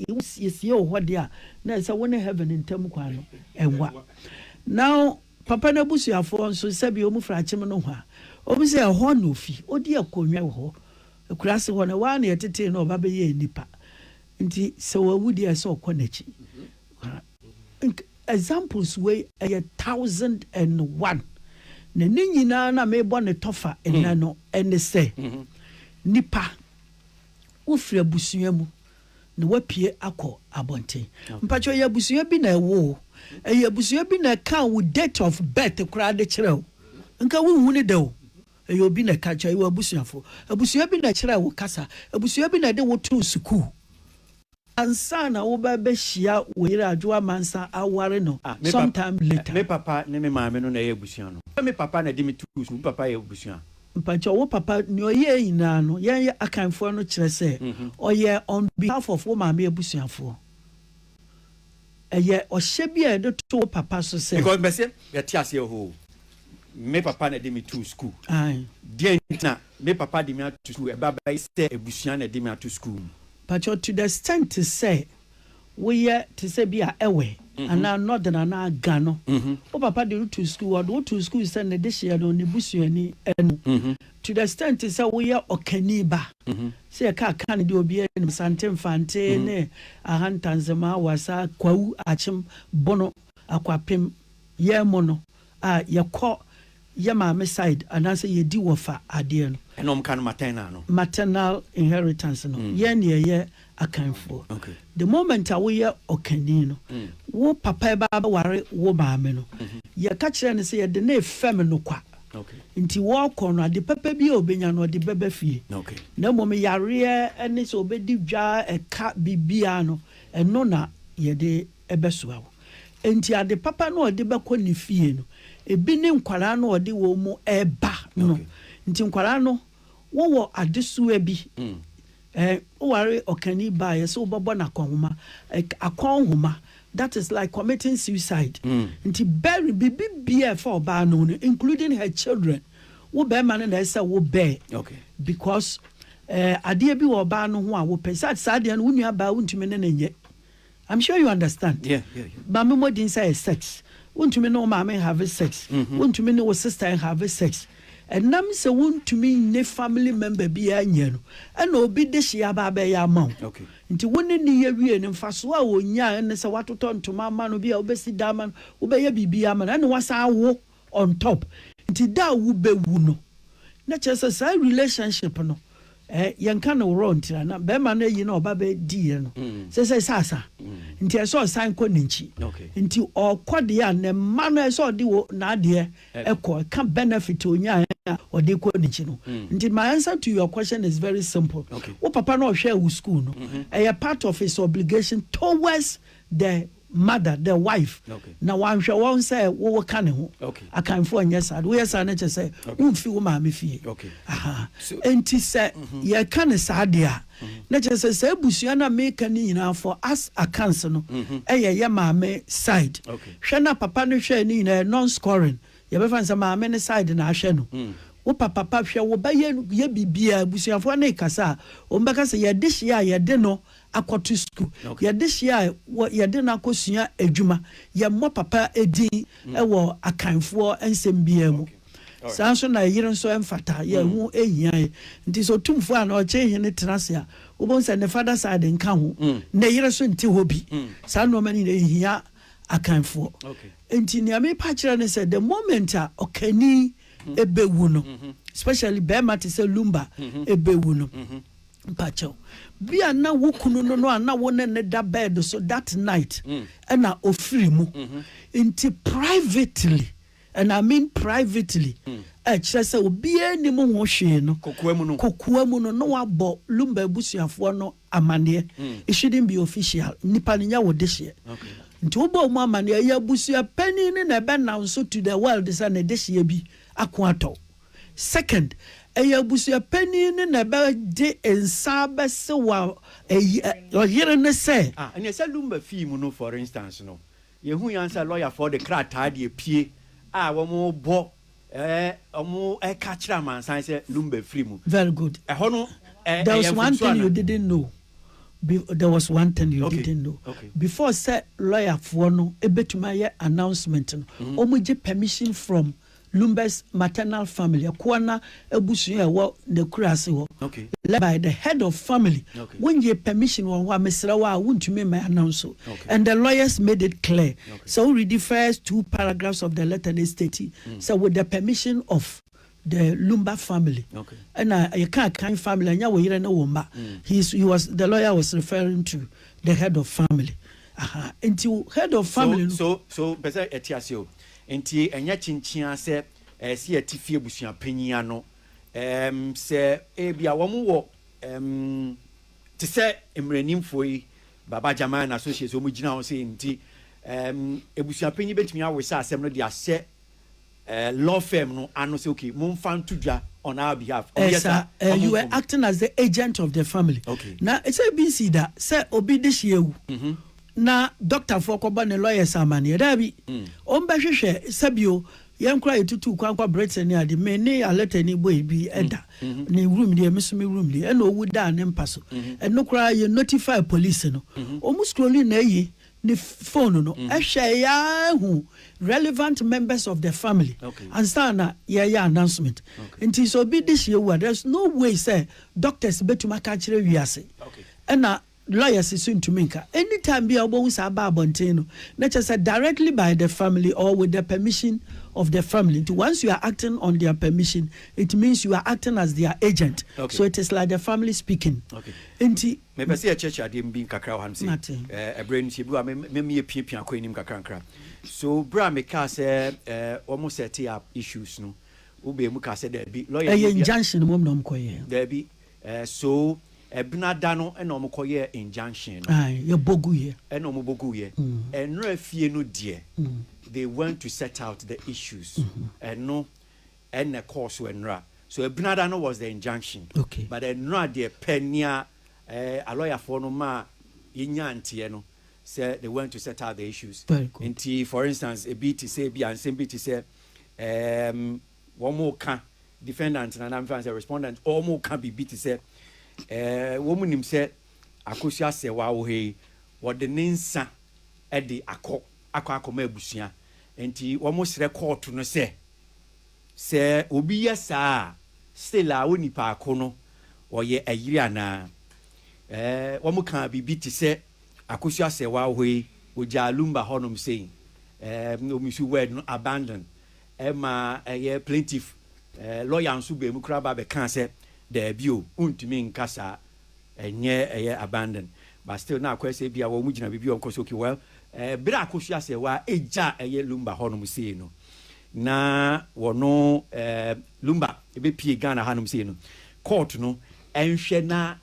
yɛsiesie wɔ hɔ deɛ a na ɛsɛ wo ne heaven ntam kwan no ɛwa now papa no abusuafoɔ nso sɛbi ɔmu firi akyem no hɔ a ɔmu sɛ ɛhɔ na ofi ɔdi akonnwa wɔ hɔ akura se hɔ na ɛwɔ a na yɛtetee no ɔba bɛyɛɛ nipa Nti sɛ wawu deɛ ɛsɛ ɔkɔ nakyi ara. Nka examples wei ɛyɛ thousand and one na ne nyinaa na mebɔ ne tɔfa nnɛ no ɛne sɛ nipa wofiri abusua mu na wapue akɔ abɔnten. Mpakyɛ ɛyɛ abusua bi na ɛwo wo? Ɛyɛ abusua bi na ɛkaa wo date of birth koraa de kyerɛ wo? Nka wonhunu da o. Ɛyɛ obi na ɛka kyerɛ, ɛyɛ w'abusuafo. Abusua bi na ɛkyerɛɛ wo kasa. Abusua bi na ɛde wo too sukuu. Ansa na wobɛbɛhyia wo yere Adwo Amansan aware no some time later. Me papa ne me maame no na ɛyɛ abusua no. Sɛ me papa na ɛde me too sukuu, me papa yɛ abusua. Mpakyɛw, wo papa, nea ɔyɛɛ nyinaa no, yɛn yɛ Akanfoɔ no kyerɛ sɛ ɔyɛɛ on behalf of wo maame abusuafoɔ. Ɛyɛ ɔhyɛ bi a yɛde to wo papa so sɛ. Because mɛse yɛte aseɛ ohoo me papa na ɛde me too school Ae. Deɛn nti na me papa de me ato school ɛba bɛyɛ sɛ abusua na ɛde me ato school mu. Pakyɛ to the extent sɛ woyɛ te sɛ bi a ɛwɛ anaa northern anaa ga no wo papa de wo too school ɔde wo too school sɛ ne dehyeɛ no ne busuani no To the extent sɛ woyɛ ɔkani ba, sɛ yɛka aka no deɛ obiara nim, Asante Mfante ne Ahantanzema, Awasa, Kwawu, Akyem, Bono, Akwapem, yɛn mu no a yɛkɔ yɛ maame side anaasɛ yɛdi wɔfa adeɛ no. Ɛna wɔka no maternal no. Maternal inheritance no, yɛn deɛ ɛyɛ Akanfoɔ. The moment a woyɛ ɔkani no, wo papa ɛba abɛware wo maame no, yɛka kyerɛ no sɛ yɛde no refɛm no kwa. Nti wɔɔkɔ no, ade papa bi a ɔbɛnya no, ɔde bɛba fie. Na mmom yareɛ ne sɛ ɔbɛdi dwa, ɛka, biribiara no, ɛno na yɛde bɛsoa wo. Nti ade papa no a ɔde bɛkɔ ne fie no, ɛbi ne nkwadaa no a ɔde wɔn reba no. Nti nkwadaa no, Wowɔ adesoa bi? Ɛɛ, woware ɔkani baa yɛ sɛ wobɛbɔ no akɔnhoma, ɛk, akɔnhoma, that is like committing suicide. Nti bury biribi biara a ɛfa ɔbaa no ho no, including her children, wo barima no na ɛsɛ sɛ wo bear, because ɛɛ, adeɛ bi wɔ ɔbaa no ho a wopɛ, sɛ saa adeɛ no wo nuabaa wontumi ne no nyɛ, I'm sure you understand. Yeah, yeah, yeah. Maame mmɔden sɛ yɛ sex. Wontumi ne wo maame have sex. Mm-hmm. Wontumi ne wo sister have sex. Ɛnam sɛ wontumi ne family member biara nyɛ no, ɛna obi de hyia ba abɛyɛ ama wo. Okay. Nti wo ne ne yɛ wie no, mfasoɔ a wɔnya ne sɛ watotɔ ntoma ama no, bi a wobɛsi da ama no, wobɛyɛ biribi ama no, ɛna wasan awo. on top nti da a wo bɛ wu no na kyerɛ sɛ saa relationship no eh yɛ nka no worɔ ntira na bɛɛma no ayi na ɔba bɛ di yɛ no sɛ sɛ sɛ asa nti ɛsɛ ɔsan kɔ ne nkyi nti ɔkɔ deɛ a ne mma no ɛsɛ ɔde wo na adeɛ ɛkɔ ɛka benefit onyaa a ɔde kɔ ne nkyi no nti my answer to your question is very simple wo papa no ɔhwɛ wo school no ɛyɛ part of his obligation towards the mother, the wife, na wanhwɛ wɔn sɛ wowo ka ne ho. Akanfoɔ nyɛ saa. Woyɛ saa no kyɛ sɛ womfi wo maame fie. Enti sɛ mm-hmm. yɛka ne saa deɛ a, mm-hmm. na kyerɛ sɛ saa abusua no a meka ne nyinaa for as Akans no mm-hmm. ɛyɛ yɛ maame side. Hwɛ na papa no hwɛ ne nyinaa non-scoring. Yɛbɛfa sɛ maame ne side na ahwɛ no. Mm. wo papa pa hwɛ wo ba yɛ yɛ biribiara abusuafoɔ ne kasa a wɔn bɛka sɛ yɛde hyia a yɛde no akɔto sukuu. Yɛde hyia a, yɛde no akɔsua adwuma. Yɛmmɔ papa din wɔ Akanfoɔ nsɛm biara mu. Saa ara nso na ɛyere nso mfata. Yɛho hia yɛ. Nti sɛ Otumfoɔ anaa Ɔkyehene tena ase a, wobɛhu sɛ ne father side nka ho, ne yere nso nte hɔ bi. Saa nnoɔma no nyinaa ɛhia Akanfoɔ. Nti nea merepa akyerɛ ne sɛ, the moment a Ɔkani bɛwu no, especially barima te sɛ Lumba bɛwu no, Mpakyɛw, bia na wo kunu no no a na wo ne no da bed so that night na ɔfiri mu. Nti privately, and I mean privately, a ɛkyerɛ sɛ obiara nnim ho hwee no, kokoa mu no, na wabɔ Lumba abusuafoɔ no amaneɛ. It shouldn't be official. Nnipa no, nyɛ wo dehyeɛ. Nti wobɔɔ mu amaneɛ, ɛyɛ abusua panin no na ɛbɛnanso to the world sɛ ne dehyeɛ bi ako atɔ wo. Second, ɛyɛ abusua panin no na ɛbɛde nsa abɛsew a ɛyi ɛ, ɔyere no sɛ. Ah, ɛnneɛ sɛ Lumba fii mu no for instance no, yɛhui ara sɛ lɔyafoɔ de krataa de apue a wɔrebɔ, ɛɛ, wɔreka akyerɛ amansan sɛ Lumba afiri mu. Very good. Ɛhɔ no, ɛ, There ɛyɛ was one mfomsoɔ thing you anaa? didn't know, be, there was one thing you Okay, didn't know, okay. before sɛ lɔyafoɔ no bɛtumi ayɛ announcement no, wɔgye permission from Lumber's maternal family, Ɛkoana abusua a ɛwɔ N'akurase hɔ, led by the head of family, wonnyee permission wɔ hɔ a mesrɛ wo a wontumi mma announce and the lawyers made it clear sɛ wo readi first two paragraphs of the letter no ɛstati sɛ with the permission of the Lumber family ɛna yɛka Akan family ɛnyɛ wo yere ne wo mma he is he was the lawyer was referring to the head of family aha nti head of family no. So so so pɛ sɛ ɛte ase o. Enti ɛnyɛ kyenkyeaa sɛ ɛsɛ sɛ yɛte fie abusua panyin ano. Ɛɛm, sɛ ebia wɔwɔ, ɛɛm, te sɛ mmaranimfo yi, Baba Jaman and Associates, wɔn gyina hɔ sei nti, ɛɛm, abusua panyin betumi awesa asɛm no de ahyɛ, ɛɛ, law firm no ano sɛ, okay, momfa nto dwa on our behalf. Wɔyɛ Ɛsa, saa, ɛɛ, wɔn you were mfom. acting as the agent of the family. Okay. Na sɛ ebi nsii da sɛ obi dehye awu, na dɔktafoɔ kɔbɔ ne lawyers amaneɛ. Daabi, wɔn bɛhwehwɛ sɛ bio, yɛn koraa yɛtutuu kwan kɔ Britain ne ade, me ne Arletta ni bɔ ebi da, ne room deɛ, me nso me room deɛ, ɛna ɔwu daa ne mpa so. Ɛno koraa yɛ notify police no, wɔn scrolli n'ayi, ne phone no, ɛhwɛeɛ ara hu relevant members of the family ansa na yɛreyɛ announcement. Nti sɛ obi de hyeɛ wu a, there's no way sɛ doctors bɛtumi aka akyerɛ wiase. Ɛna Lawyers nso ntumi nka. Anytime bi a wobɛhu saa ba abɔnten no, na kyerɛ sɛ directly by the family or with the permission of the family. Nti once you are acting on their permission, it means you are acting as their agent. Okay. So it is like the family speaking. Okay. Nti. Mepɛ sɛ yɛkyerɛkyerɛ adeɛ bi nkakra wɔ hanom sɛ. Mate. Eh, ɛberɛ nti ebi wɔ a mɛmi apiapia akɔ anim nkakrankra. So berɛ a mekaa sɛ eh, wɔn set up issues no, wobɛɛ mu kaa sɛ daabi. Lawyer ɛyɛ injunction mmom na wɔkɔyɛ. Daabi. Eh so ɛbena da no ɛna ɔmo kɔ yɛɛ injunction no. Ae yɛ bɔ gu yɛ. Ɛna ɔmo bɔ gu yɛ. Ɛnora fie no deɛ they went to set out the issues ɛno ɛna ɛkɔɔ so ɛnora so ɛbena da no was the injunction but ɛnora deɛ pɛ nea eh alɔyafoɔ no maa yɛ nyaa nteɛ no sɛ they went to set out the issues nti for instance ebi te sɛ ebia nsɛm bi te sɛ ehm wɔreka, defendant no anaa memfa no sɛ respondent, wɔreka biribi te sɛ wɔnim sɛ Akosua Asewa wɔ ha yi, wɔde ne nsa de akɔ akɔ akɔma abusua, nti wɔsrɛ kɔɔto no sɛ, sɛ obi yɛ saa a, still a onipa ko no ɔyɛ ayiri anaa? Ɛɛ, wɔkaa biribi te sɛ Akosua Asewa wɔ hɔ yi, wɔgyaa Lumba hɔnom sei, ɛɛ, wɔmisi word no abandon, Ɛma ɛyɛ plaintiff lawyer nso baa mu koraa ba bɛkaa sɛ daabi o, wontumi nka saa, ɛnyɛ ɛyɛ abandon. But still na akɔyɛ sɛ ebia wɔn gyina biribi a wɔnkɔ so. Okay, well, bere a Akosua Asɛwaa gya ɛyɛ Lumba hɔnom sei no, na wɔno Lumba bɛpie Ghana hanom sei no, court no nhwɛ na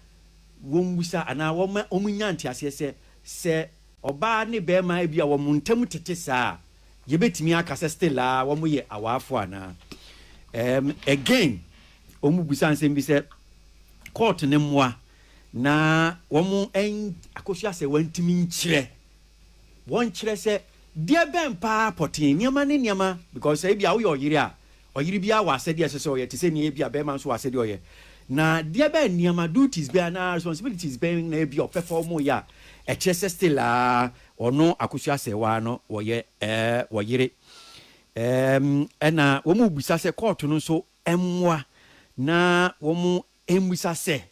wɔmmisa anaa wɔma wɔnya nteaseɛ sɛ, sɛ ɔbaa ne barima ebia wɔn ntam tete saa a, Yɛbɛtumi aka sɛ still ara wɔyɛ awaafo anaa? Ɛɛm, again, wɔbisa nsɛm bi sɛ, court no mmoa na wɔn ɛn, Akosua sɛ wɔntumi nkyerɛ, wɔnkyerɛ sɛ deɛ bɛn paa pɔtee, nneɛma ne nneɛma, because sɛ ebia woyɛ ɔyere a, ɔyere biara wɔ asɛdeɛ a ɛsɛ sɛ ɔyɛ te sɛ nea ebia barima nso wɔ asɛdeɛ a ɔyɛ. Na deɛ bɛn nneɛma, duties bɛn anaa responsibilities bɛn na ebia ɔpɛ fa wɔn yɛ a ɛkyerɛ sɛ still ara Wɔno akosua sɛ waa no wɔyɛ ɛɛ wɔ yere ɛɛm ɛna wɔn rebisa sɛ kɔɔto no nso mmoa na wɔn mmisa sɛ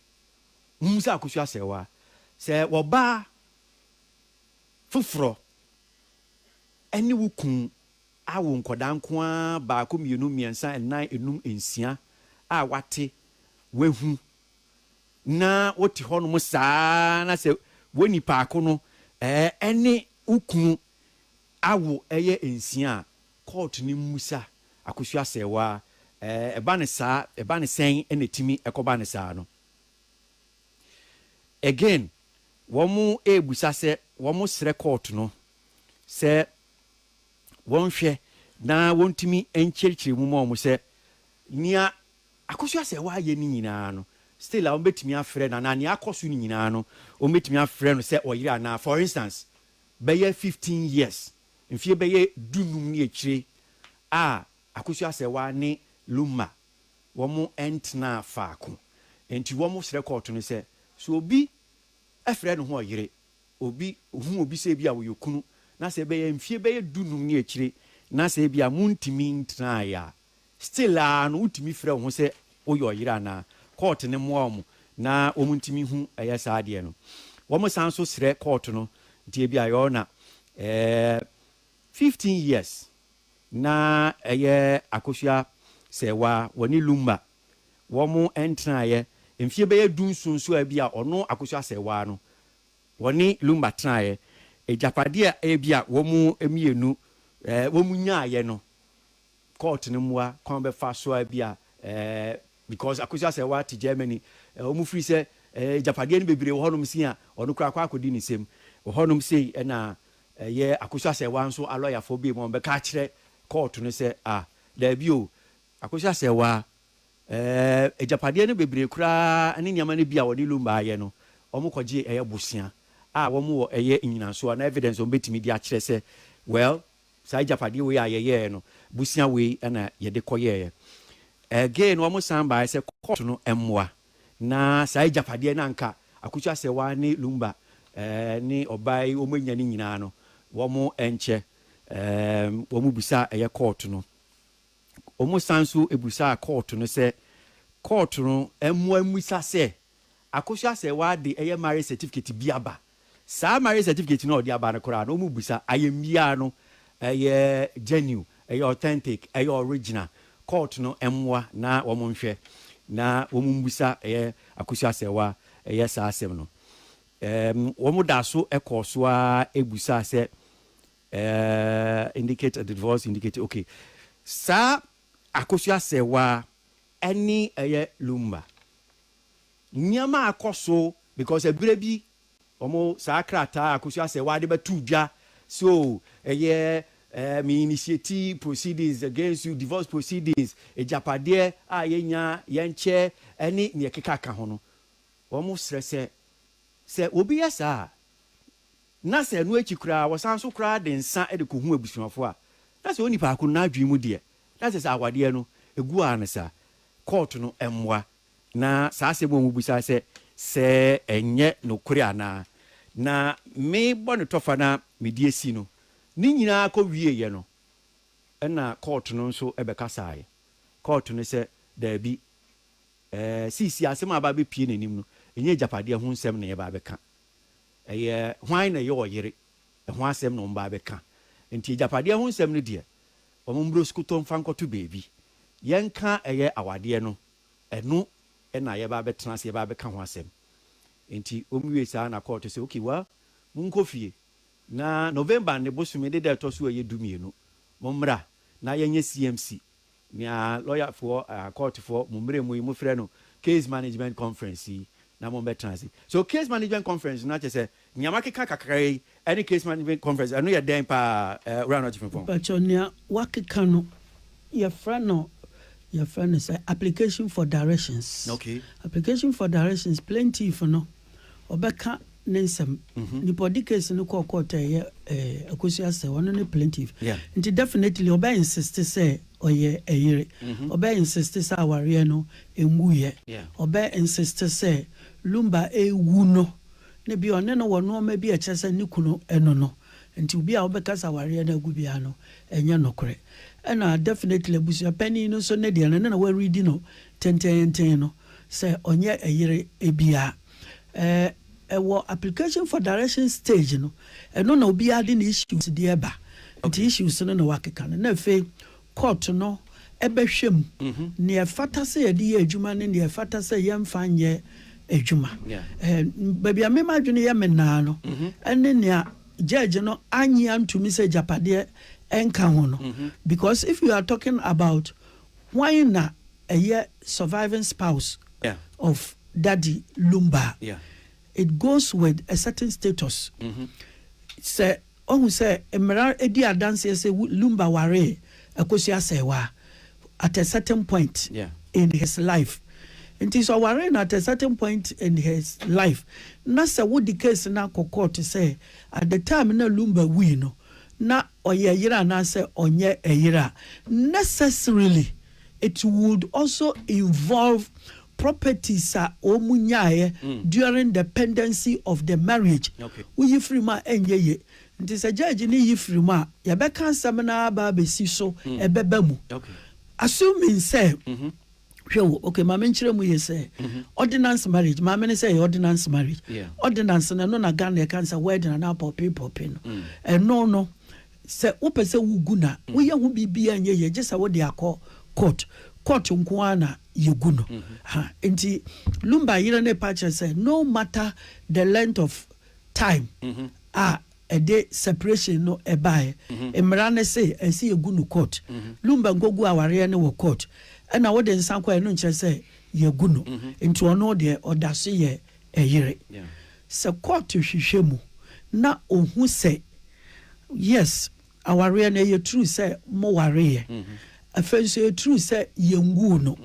mumisa akosua sɛ waa sɛ wɔ baa foforɔ ɛne wo kun awo nkɔdaa nko ara baako mmienu mmiɛnsa nnan enum nsia a wate wahu na wote hɔnom saa ara na sɛ wo nipaako no ne wo kunu awo yɛ nsia a, kɔɔto no mmisa Akosua Asɛewaa, ɛba no saa, ɛba no sɛn na ɛtumi kɔba no saa no. Again, wɔrebisa sɛ wɔsrɛ kɔɔto no sɛ wɔnhwɛ na wɔntumi nkyerɛkyerɛ mu ma wɔn sɛ nea Akɔso a sɛ w'ayɛ ne nyinaa no still a wɔbɛtumi afrɛ no anaa nea akɔ so no nyinaa no wɔbɛtumi afrɛ no sɛ ɔyere anaa. For instance, bɛyɛ fifteen years, mfeɛ bɛyɛ du num ne akyire a Akɔso Asɛwa ne Lumma wɔn ntenaa faako nti wɔn srɛ kɔɔto no sɛ sɛ obi frɛ ne ho ɔyere, obi hu obi sɛ ebi a ɔyɛ okunu na sɛ bɛyɛ mfeɛ bɛyɛ du num ne akyire na sɛ ebi a montumi ntenaeɛ a Still aa no wotumi frɛ wo ho sɛ woyɛ ɔyere anaa? Court no mmoa wɔn na wɔn ntumi hu ɛyɛ saa adeɛ no. Wɔn san nso srɛ court no nti ebia your na ɛɛ fifteen years na ɛyɛ Akosua Serwa wɔne Lumba wɔn ntenaeɛ mfie bɛyɛ du nson nso a ebia ɔno Akosua Serwa no wɔne Lumba tenaeɛ agyapadeɛ a ebia wɔn mmienu ɛɛ wɔn nyaaeɛ no Court no mmoa kwan a ɔbɛfa so a ebia ɛɛ because Akosua Asɛwaa te Germany ɛɛ wɔn firi sɛ ɛɛ agyapadeɛ no bebree wɔ hɔnom sin a ɔno koraa akɔ akɔdi ne nsam wɔ hɔnom sei ɛna ɛyɛ Akosua Asɛwaa nso alɔyafoɔ biem wɔn bɛka akyerɛ court no sɛ ah daabi o Akosua Asɛwaa ɛɛ agyapadeɛ no bebree koraa ne nneɛma no bi a wɔde Lumba ayɛ no wɔn kɔgye ɛyɛ bosea a wɔn wɔ ɛyɛ nnyinasoɔ anaa evidence wɔn betumi de akyerɛ sɛ well Saa agyapadeɛ wei a yɛyɛɛ no, bosea wei na yɛde kɔyɛeɛ. Ɛgee no wɔsan baeɛ sɛ court no mmoa na saa agyapadeɛ no a anka Akusu Asɛwa ne Lumba ne ɔbaa yi wɔanya no nyinaa no wɔnkyɛ. Wɔbisaa ɛyɛ court no. Wɔsan nso bisaa court no sɛ court no mmoa mmisa sɛ Akusu Asɛwa de ɛyɛ marriage certificate bi aba Saa marriage certificate no a ɔde aba no koraa no, wɔmmisa. Ayamye ara no, ɛyɛ genuine, ɛyɛ authentic, ɛyɛ original. Court no mmoa na wɔnhwɛ, na wɔmmisa ɛyɛ Akosua Asɛwa ɛyɛ saa asɛm no. Ɛɛm, wɔdaa so kɔɔ so ara bisaa sɛ, ɛɛm, indicate the divorce, indicate, okay. Saa Akosua Asɛwa ne ɛyɛ Lumba. Nneɛma a ɛkɔ so because ɛberɛ bi wɔn saa krataa Akosua Asɛwaa de bɛtoo dwa sɛ oo ɛyɛ ɛɛ me initiate proceedings against you, divorce proceedings, agyapadeɛ a yɛnya yɛnkyɛ ɛne nea ɛkeka ka ho no, wɔn srɛ sɛ sɛ obi yɛ saa a na sɛ ɛno akyi koraa wɔsan nso koraa de nsa de kɔhu abusuafoɔ a na sɛ onipa ko no n'adwene mu deɛ na kyerɛ sɛ awadeɛ no ɛgu ara no saa, kɔɔto no mmoa Na saa asɛm a wɔbisae sɛ, Sɛ ɛnyɛ nokore anaa? Na me bɔne tɔfa no a mede asi no, ne nyinaa kɔwieeɛ no, ɛna kɔɔto no nso bɛkasaeɛ. Kɔɔto no sɛ, Daabi, ɛɛ, seesei asɛm a aba abɛpue n'anim no, ɛnyɛ agyapadeɛ ho nsɛm na yɛreba abɛka. Ɛyɛ hwan na ɛyɛ ɔyere, ɛho asɛm na wɔba abɛka. Enti agyapadeɛ ho nsɛm no deɛ, wɔmmrɛ osukoto mfa nkɔto baabi. Yɛnka ɛyɛ awadeɛ no Ɛno na yɛba abɛtena ase, yɛba abɛka ho asɛm. Enti wɔwiee saa na kɔɔto sɛ, Okay, well, monkɔ fie na November ne bosome ne da a ɛtɔ so a ɛyɛ dumienu, mommra na yɛnyɛ CMC, nea lɔyafoɔ, kɔɔtofoɔ, mo mmerɛ mu yi mofrɛ no Case Management Conference yi, na mommɛtena ase. So Case Management Conference no akyerɛ sɛ Nea makeka kakra yi ne Case Management Conference, ɛno yɛ dɛn paa eh, Owura Notch Frimpong? Mpakyɛw, nea wakeka no, yɛfrɛ no yɛfrɛ no sɛ application for directions. Okay. Application for directions, plaintiff no, ɔbɛka ne nsɛm. Mhm. Nipa a ɔde case no kɔɔ court a ɛyɛ eh, Akosua Asɛw, ɔno ne plaintiff. Yeah. Nti definitely ɔbɛ insist sɛ ɔyɛ ɛyere. Mhm. Ɔbɛ insist sɛ awareɛ no ɛnguiɛ. Yeah. Ɔbɛ insist sɛ Lumba ɛwu no, na bi a ɔne no wɔ nnoɔma bi a ɛkyerɛ sɛ ne kunu ɛno no nti obi a wobɛkasa awareɛ no agu biara no ɛnyɛ nokorɛ ɛna definitely abusua panin no nso ne deɛ no ne na wɔredi no tenteenten no sɛ ɔnyɛ ɛyere ɛbia ɛɛ ɛwɔ application for direction stage no ɛno na obiara de ne issues deɛ ɛba nti issues no na wakeka no na afei Kɔɔto no bɛhwɛ mu nea ɛfata sɛ yɛde yɛ adwuma ne nea ɛfata sɛ yɛmfa nyɛ adwuma. Baabi a me m'adwene yɛ me naa no ne nea judge no annye antumi sɛ agyapadeɛ nka ho no because if you are talking about hwan na ɛyɛ surviving spouse of Daddy Lumba a, it goes with a certain status. Sɛ. Woahu sɛ mmara di adanseɛ sɛ Lumba waree Akosua Asɛewa at a certain point in his life. Nti sɛ ɔwaree no at a certain point in his life na sɛ wode case no akɔ court sɛ at the time na Lumba wui no na ɔyɛ yere anaasɛ ɔnyɛ yere a, necessarily it would also involve properties a wɔn nyaeɛ during the pendency of the marriage, wo yi firi mu a ɛnyɛ yie. Nti sɛ judge no yi firi mu a, yɛbɛka asɛm no ara aba abɛsi so, ɛbɛba mu. Assuming sɛ, hwɛ o, okay, ma menkyerɛ mu yie sɛ, ordinance marriage, maame no sɛ ɛyɛ ordinance marriage, ordinance no, ɛno na Ghana yɛka no sɛ wedding anaa pɔpee pɔpee no, ɛno no, Sɛ wopɛ sɛ wogu na woyɛ ho biribiara nyɛ yie gye sɛ wode akɔ court. Court nko ara na yɛgu no. Ha, nti Lumba yere no repa akyerɛ sɛ no matter the length of time a ɛde separation no baeɛ, mmara no se ɛsɛ sɛ yɛgu no court. Lumba nkɔguu awareɛ no wɔ court. Ɛna wode nsa kɔeɛ no nkyerɛ sɛ yɛagu no. Nti ɔno deɛ ɔda so yɛ ɛyere. Sɛ court hwehwɛ mu na ɔhu sɛ yes awareɛ no ɛyɛ true sɛ mo wareeɛ, afei nso ɛyɛ true sɛ yɛnwuu no,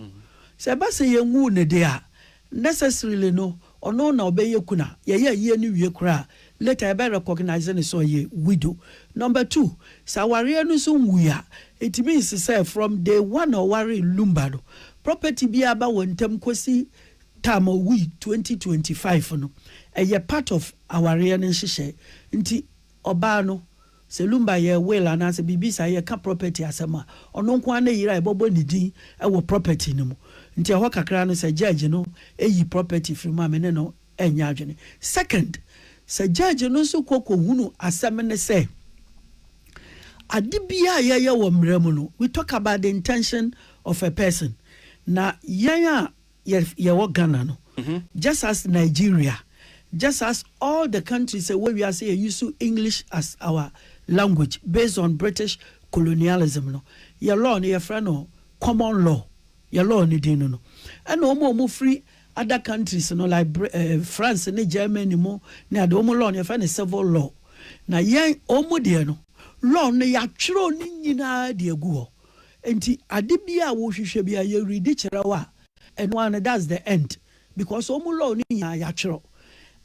sɛ ɛba sɛ yɛnwuu no deɛ a, necessarily no ɔno na ɔbɛyɛ kunu a yɛyɛ ayie no wie koraa a, later yɛbɛ recognise no sɛ ɔyɛ widow. Number two, sɛ awareɛ no nso nwui a, it means sɛ from day one a ɔwaree Lumba no, property biara ba wɔn ntam kɔsi Tam owui twenty twenty five no ɛyɛ part of awareɛ no nhyehyɛɛ nti ɔbaa no sɛ lumba yɛ will anaasɛ biribi saa yɛka property asɛm a ɔno nko ara na yira a yɛbɔbɔ ne din wɔ property no mu nti ɛhɔ kakra no sɛ judge no yi property firi mu a me ne no nyɛ adwene second sɛ judge no nso kɔ kɔ hunu asɛm ne sɛ ade biara a yɛyɛ wɔ mmara mu no we talk about the intention of a person na yɛn a yɛ yɛwɔ Ghana no just as Nigeria just as all the countries a ɛwɔ wiase yɛ use English as our language based on British colonialism no yɛ law no yɛfrɛ no common law yɛ law no din no no ɛna wɔn a wɔn firi other countries no like Br eh, France ne Germany mu ne ade wɔn law no yɛfrɛ no civil law na yɛn wɔn deɛ no law no yɛatwerɛ ne nyinaa de agu hɔ Enti ade biara a wohwehwɛ biara yɛ ready kyerɛ wo a, ɛno ara no that's the end because wɔn mu law no nyinaa yɛatwerɛ.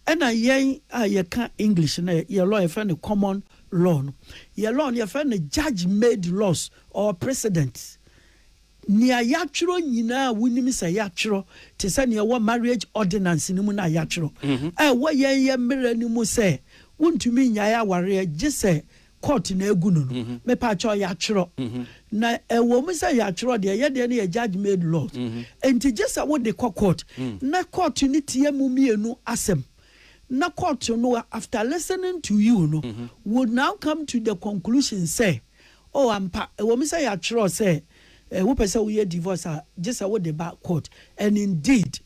Ɛna yɛn a yɛka English no yɛ law yɛfrɛ no common law no, yɛ law no yɛfrɛ no judge made laws or precedent. Nea yɛatwerɛ nyinaa a wonim sɛ yɛatwerɛ te sɛ nea ɛwɔ marriage ordinance no mu no a yɛatwerɛ a ɛwɔ yɛn yɛ mmera no mu sɛ wontumi nnyae awareɛ gye sɛ court na agu no no mepatwɔ yɛatwerɛ na ɛwɔ mu sɛ yɛatwerɛ deɛ yɛ deɛ no yɛ judge made laws nti gye sɛ wode kɔ court na court no tie mo mmienu asɛm na court no after listening to you no would now come to the conclusion sɛ oh ampa ɛwɔ mu sɛ yɛatwerɛ sɛ wopɛ sɛ woyɛ divorce a gye sɛ wode ba court and indeed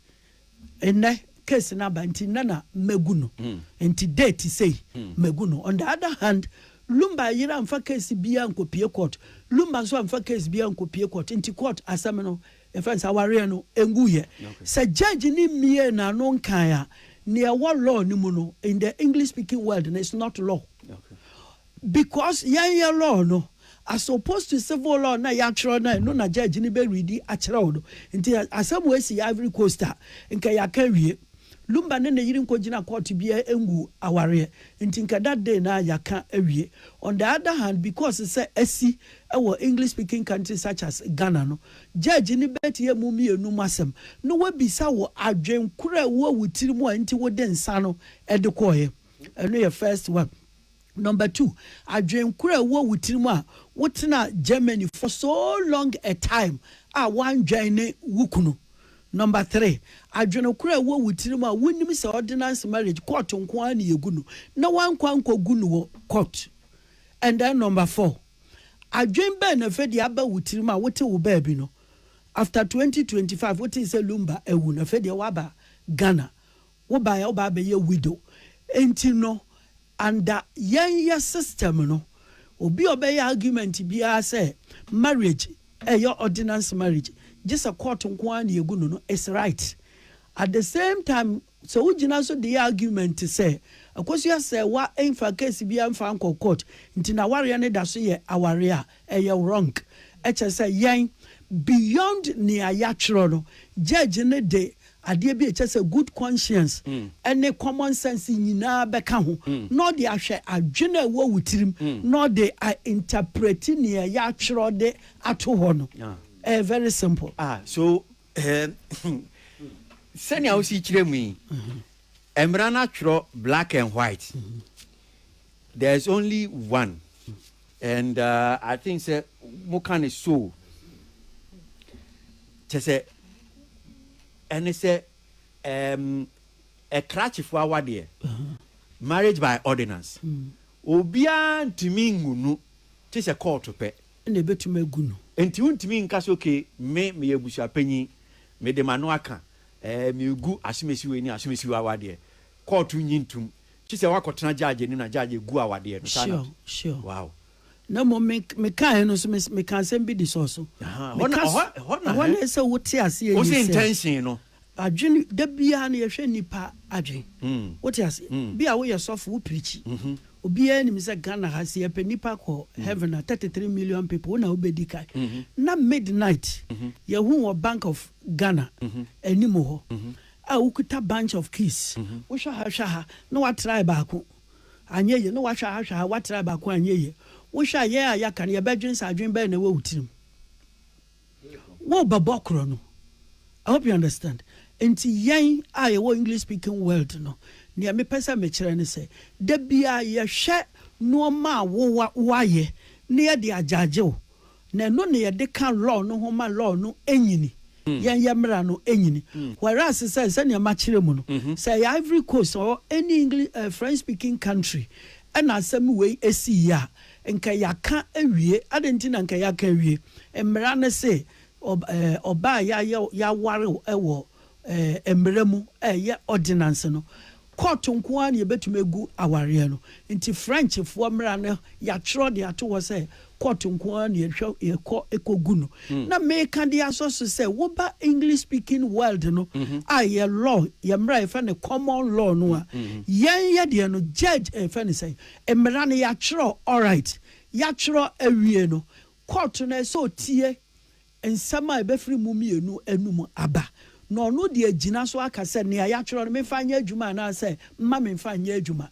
Nnɛ case no aba nti nnɛ na magu no nti date sei magu no. On the other hand Lumba yere amfa case biara ankɔpie court, Lumba nso amfa case biara ankɔpie court nti court asɛm no yɛfrɛ no sɛ awareɛ no ɛnguiɛ. Sɛ judge no mmiee n'ano nkaeɛ a, nea ɛwɔ law no mu no in the English speaking world no it's not law. Because yɛnyɛ law no as opposed to civil law na yɛatwerɛ na ɛno na judge no bɛ readi akyerɛ wo no nti asɛm wei si Ivory Coast a nka yɛaka awie. Lumba ne ne yere nkɔgyina court biara ngu awareɛ nti nka that day no ara yɛaka awie. On the other hand because sɛ asi wɔ English speaking country such as Ghana no judge no bɛtie mo mmienu mo asɛm na wabisa wo adwene korɔ a ɛwɔ wo tiri mu a nti wode nsa no de kɔeɛ. Ɛno yɛ first one. Number two, adwen koro a ɛwɔ wo tiri mu a wo tena Germany for so long a time a wandwɛn ne wo kunu. Number three, adwen koro a ɛwɔ wo tiri mu a wo nim sɛ ordinance marriage court nko ara na yɛgu no na wankɔ ankɔ gu no wɔ court. And then number four, adwen bɛn na afei deɛ aba wo tiri mu a wo te wo baabi no after 2025 wo tee sɛ Lumba awu na afei deɛ waba Ghana Wo bae a wo ba abɛyɛ widow nti no under yɛn yɛ system no obi a ɔbɛyɛ argument biara sɛ marriage ɛyɛ ordinance marriage gye sɛ court nko ara na yɛgu no no is right at the same time sɛ wo gyina so de yɛ argument sɛ Akosua sɛ wa mfa case biara mfa nkɔ court nti na awareɛ no da so yɛ awareɛ a Ɛyɛ wrong ɛkyerɛ sɛ yɛn beyond nea yatwerɛ no judge no de adeɛ bi a ɛkyerɛ sɛ good conscience ɛne common sense nyinaa bɛka ho na ɔde ahwɛ adwene a ɛwɔ wo tirim na ɔde a interprete nea yatwerɛ de ato hɔ no ɛyɛ very simple. Ah so eeh sɛnea wosi kyerɛ mu yi mmara no atwerɛ black and white there is only one. And I think sɛ mo ka no so o, kyerɛ sɛ ɛne sɛ ɛɛm ɛkrakyefo awadeɛ, marriage by ordinance, obiara ntumi ngu no gye sɛ kɔɔto pɛ. Ɛna ɛbɛtumi agu no. Nti wontumi nka sɛ okay me meyɛ abusuapanyin mede m'ano aka ɛɛ megu asomasiwei ne asomasiwei awadeɛ, kɔɔto nnye ntom Kyesɛ wakɔ tena judge anim na judge egu awadeɛ no saa na. Sure sure. Wow. Na mmom me me kaeɛ no nso me me ka asɛm bi de sɔɔ so. Ahaa ɛhɔ na ɛhɔ ɛhɔ na hɛn. Ɛhɔ sɛ wo te aseɛ yie sɛ. Wose intention no. Adwene da biara no yɛhwɛ nnipa adwene. Wo te aseɛ. Bia wo yɛ sɔfo wo preachi. Obiara nim sɛ Ghana ha sɛ yɛpɛ nnipa akɔ heaven a thirty three million people wo na wo bɛdi kan. Na midnight yɛhuu wɔ bank of Ghana anim hɔ. a wokuta bunch of keys, wohwɛ ha hwɛ ha na woatrae baako anyɛ yie, na woahwɛ ha hwɛ ha woatrae baako anyɛ yie. Wohwɛ a yɛn a yɛaka no yɛbɛdwen sɛ adwen bɛn na ɛwɔ wo tirim? Worebɛbɔ korɔ no. I hope you understand. Nti yɛn a yɛwɔ English speaking world no, nea mepɛ sɛ mekyerɛ ne sɛ, da biara yɛhwɛ nnoɔma a woayɛ na yɛde agyagye wo Na ɛno na yɛde ka law no ho ma law no nyini, yɛn yɛ mmara no nyini. Whereas sɛ sɛnea makyerɛ mu no, sɛ ɛyɛ Ivory Coast or any English eh, French speaking country ɛna asɛm wei esii yɛ a, nka yɛaka awie. Adɛn nti na nka yɛaka awie? Mmara no se ɔb eh, ɔbaa a yɛayɛ, yɛaware wo wɔ. eh, mmara mu a ɛyɛ ordinance no, kɔɔto nko ara na yɛbɛtumi agu awareɛ no. Nti Frenchfoɔ mmara no, yɛatwerɛ de ato hɔ sɛ kɔɔto nko ara na yɛhwɛ yɛkɔ kɔgu no. Mm. Na meka de asɔ so sɛ woba English speaking world no mm -hmm. a yɛ law, yɛ mmara yɛfɛ no common law no a, mm -hmm. yɛn yɛ deɛ no judge ɛfɛ eh, no sɛ mmara no yɛatwerɛ alright, yɛatwerɛ awie no, kɔɔto no ɛsɛ otie Nsɛm a ɛbɛfiri mo mmienu anom aba, na ɔno de agyina so aka sɛ, Nea yɛatwerɛ no, memfa nyɛ adwuma anaa sɛ, mma memfa nyɛ adwuma.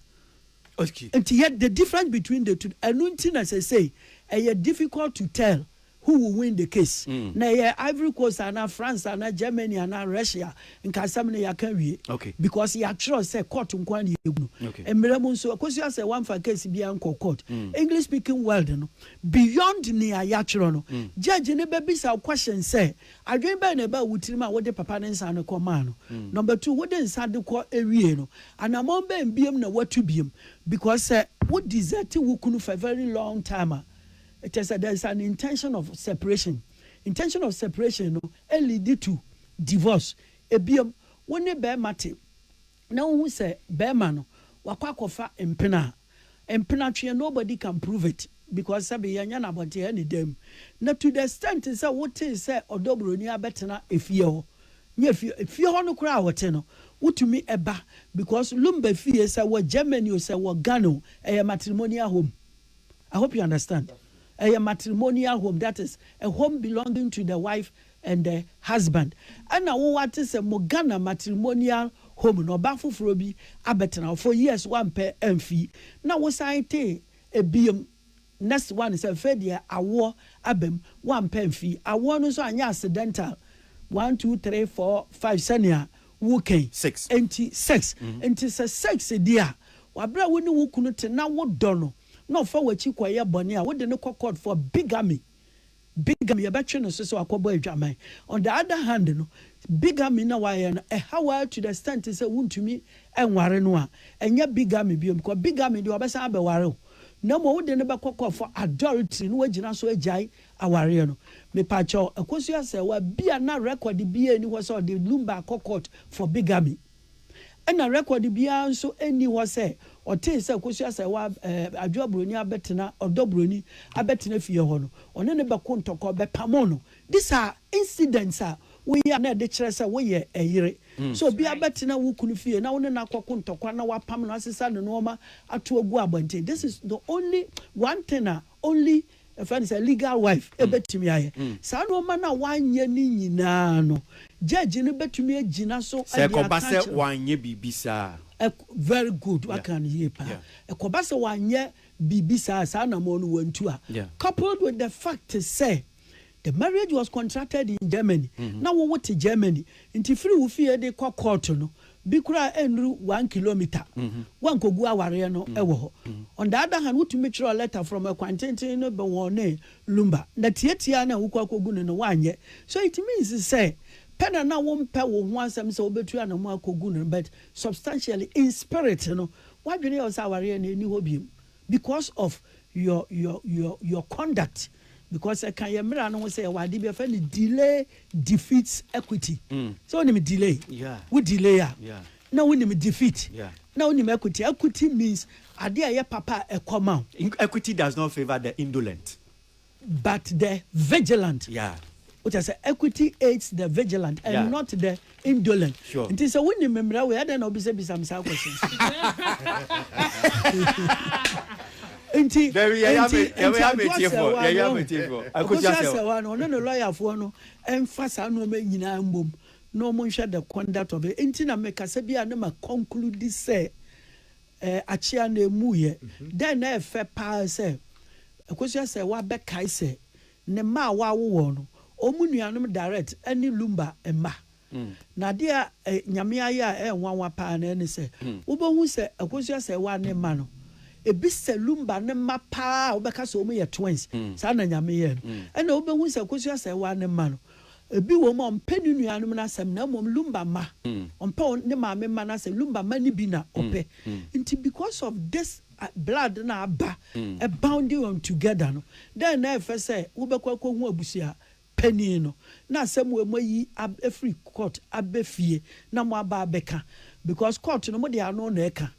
Okay. Nti yet the difference between the two, ɛno nti na seesei ɛyɛ difficult to tell who will win the case. Na ɛyɛ Ivory Coast anaa France anaa Germany anaa Russia, nka asɛm no yɛaka awie. Okay. Because yɛatwerɛ sɛ court nko ara na yɛgu no. Okay. Mmerɛ mu nso, Akosua sɛ wɔamfa case biara nkɔ court. English speaking world no, Beyond nea yɛatwerɛ no, gyɛɛgye no bɛbisa wo question sɛ, Adwene bɛn na ɛbaa wo tirim a wode papa no nsa no kɔmaa no? Number two, wode nsa de kɔ wiee no, anammɔn bɛn biom na woatu biom? Because sɛ wo desert wo kunu for a very long time a, kyerɛ sɛ there is an intention of separation. Intention of separation no lead to divorce. Ebiem, wo ne bɛɛma te. na wohu sɛ bɛɛma no wakɔ akɔfa mpena a, mpena tweɛ nobody can prove it because sɛbi yɛnyɛ no abɔnten ɛne dan mu na to the extent sɛ wotee sɛ ɔdɔ broni abɛtena efie hɔ nyɛ fie efie hɔ no koraa a ɔte no wotumi ɛba because lumba fie sɛ wɔ Germany o sɛ wɔ Ghana o ɛyɛ matrimonial home I hope you understand ɛyɛ matrimonial home that is a home belonging to the wife and the husband ɛna wo wate sɛ mo Ghana matrimonial home no ɔbaa foforɔ bi abɛtena hɔ for years wampɛ amfii na wo san tee ɛbiom next one sɛ afei deɛ awoɔ abam wampɛ amfii awoɔ no nso anyɛ accidental one two three four five sɛnea wo ka yi Six. nti sex nti sɛ sex di a wabrɛ a wo ne wo kunu te na wo dɔ no na ɔfa wakyi kɔyɛ bɔne a wode no kɔ court for bigamy. Bigham yɛbɛtwe no so sɛ wakɔbɔ adwaman. On the other hand no, bigamy na wayɛ no ɛhaw ara to the extent sɛ wontumi nware no a, ɛnyɛ bigamy bio because bigamy deɛ ɔbɛsan abɛware wo na mmom wode no bɛkɔ court for adultery na wagyina so agyae awareɛ no. Mepakyɛw, Akosua Serwaa, bi a na record biara nni hɔ sɛ ɔde Lumba akɔ court for bigamy. Ɛnna rekɔd biara nso nni hɔ sɛ ɔtee sɛ Kosi Asɛewa Adwoa Buroni abɛtena ɔdɔ buroni abɛtena fie hɔ no, ɔne no bɛko ntɔkwaw bɛpamoo no. These are incidents a woyɛ a na ɛde kyerɛ sɛ woyɛ ɛyere. Sɛ obi abɛtena wo kunu fie na wo ne no akɔko ntɔkwa na woapam no, asesa ne nnoɔma ato agu abɔnten, this is the only one thing a Only, yɛfrɛ no sɛ legal wife, ɛbɛtumi ayɛ. Saa nnoɔma no a wanyɛ no nyinaa no, judge no bɛtumi agyina so de aka akyerɛ. Sɛ ɛkɔba sɛ wanyɛ biribi saa a. Very good, woaka no yie paa. Ɛkɔba sɛ wanyɛ biribi saa a, saa anammɔn no wantu a, coupled with the fact sɛ The marriage was contracted in Germany, na wo wo te Germany, nti firi wo fie de kɔ kɔɔto no, bi koraa ɛnnuru one kilomita, woankogu awareɛ no wɔ hɔ. On the other hand, wotumi twerɛ lɛta from ɛkwan tenten no bɛ wɔn ne lumba, na tiatiaa no a wokɔ akɔgu no no woanyɛ. So it means sɛ, pɛ na na wompɛ wo ho asɛm sɛ wobɛtu anamɔn akɔgu no, but substantially, in spirit no, woadwene yɛ wo sɛ awareɛ no ɛnni hɔ biom. because of your your your your conduct because ɛka yɛ mmera no ho sɛ ɛwɔ ade bi ɛfɛ no delay defeats equity mm. sɛ wonim delay yeah. wo delay a yeah. na wonim defeat yeah. na wonim equity equity means ade a ɛyɛ papa a ɛkɔ ma equity does not favour the indolent But the vigilant. Yeah. Wokyɛ sɛ equity aids the vigilant and yeah. not the indolent. Sure. Nti sɛ wo nim mmerɛ wei adɛn na wobisabisa m saa question. nti nti nti aduasɛwa no akosuasɛwa no ɔno ne lɔyafoɔ no ɛnfa saa nneɛma nyinaa mbom na wɔn nhwɛ the conduct of it nti na mekasa bi a ne ma conclude sɛ Ɛ, akyea na emuiɛ. Dɛn na ɛyɛ fɛ paa sɛ Akosua sɛ wabɛkae sɛ ne mma a wawo wɔn no, wɔn nuanom Darrett ne Lumba mma. Na adeɛ a ɛ, Nyame ayɛ a ɛyɛ nwanwa paa no ɛne sɛ, wobɛhu sɛ Akosua sɛ wa ne mma no, ebi sɛ Lumba no mma paa a wobɛka sɛ wɔn yɛ twins, saa na Nyame yɛɛ no. Ɛna wobɛhu sɛ Akosua sɛ wa ne mma no, Ebi wom a ɔmpɛ ne nuanom no asɛm na mmom Lumba mma. Ɔmpɛ ne maame mma no asɛm, Lumba mma no bi na ɔpɛ. Nti because of this blood no a aba bounding on together no, dɛn na ɛfɛ sɛ wobɛkɔ akɔhu abusua panin no na asɛm wei moayi afiri court aba fie na moaba abɛka? Because court no mode ano na ɛka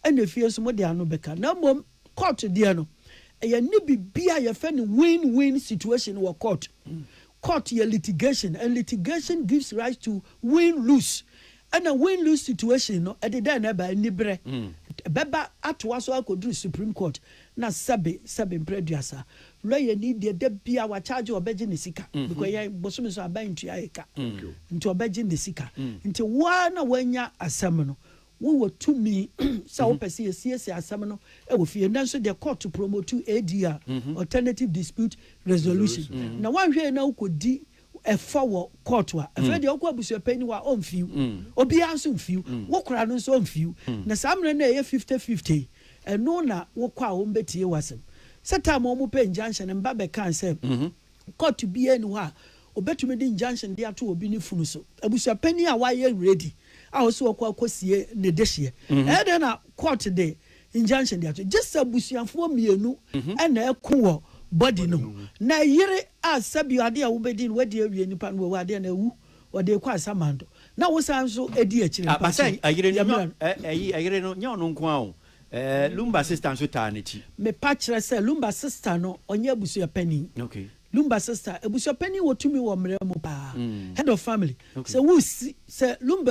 ɛna fie nso mode ano bɛka na mmom. Court deɛ no ɛyɛ nni biribiaa yɛfɛ no win win situation wɔ court. Court yɛ litigation and litigation gives rise to win lose ɛna win lose situation no ɛde dɛn na ɛba aniberɛ. Ɛbɛba atoa so akɔduru supreme court na sɛbe sɛbe mprɛ aduasa. Lawyer ni deɛ da biaa wa charge ɔbɛgye ne sika because yɛn bosome so aban ntua yɛ ka nti ɔbɛgye ne sika nti wo ara na wanya asɛm no Wowɔ tumi sɛ wopɛ sɛ yɛsiesie asɛm no wɔ fie, nanso deɛ kɔɔto promotu ADR, Alternative Dispute Resolution, na woanhwɛ yie na wokɔdi ɛfɔ wɔ kɔɔto a, afei deɛ wokɔ abusuapanin hɔ a, ɔmfi wo. Obiara nso mfi wo. Wo kora no nso ɔmfi wo. Na saa mmerɛ no a ɛyɛ fifty fifty yi, ɛno na wokɔ a wɔbɛtie w'asɛm. Sɛ time a wɔpɛ injunction no, me ba bɛkaa sɛ, Kɔɔto biara nni hɔ a wɔbɛtumi de injunction de ato obi ne funu so. Abusuapanin a wayɛ ready a ɔsɛ ɔkɔ akɔsie ne dehyeɛ, ɛyɛ dɛn na court de injunction de ato? Gye sɛ abusuafoɔ mmienu na ɛko wɔ body no ho, na yere a sɛbi adeɛ a wobɛdi no wadi awie, nipa no wawu adeɛ no awu, wɔde rekɔ asamando na wosan nso di akyire no, ɛsɛ sɛ yɛmmra no. Ɛyere no, nyɛ ɔno nko ara o, Ɛɛ Lumba sista nso taa n'akyi. Me pa kyerɛ sɛ Lumba sista no ɔnyɛ abusua panin. Okay. Lumba sista, abusua panin wɔ tumi wɔ mmara mu paa. Head of family. Okay. Sɛ wo si, sɛ Lumba.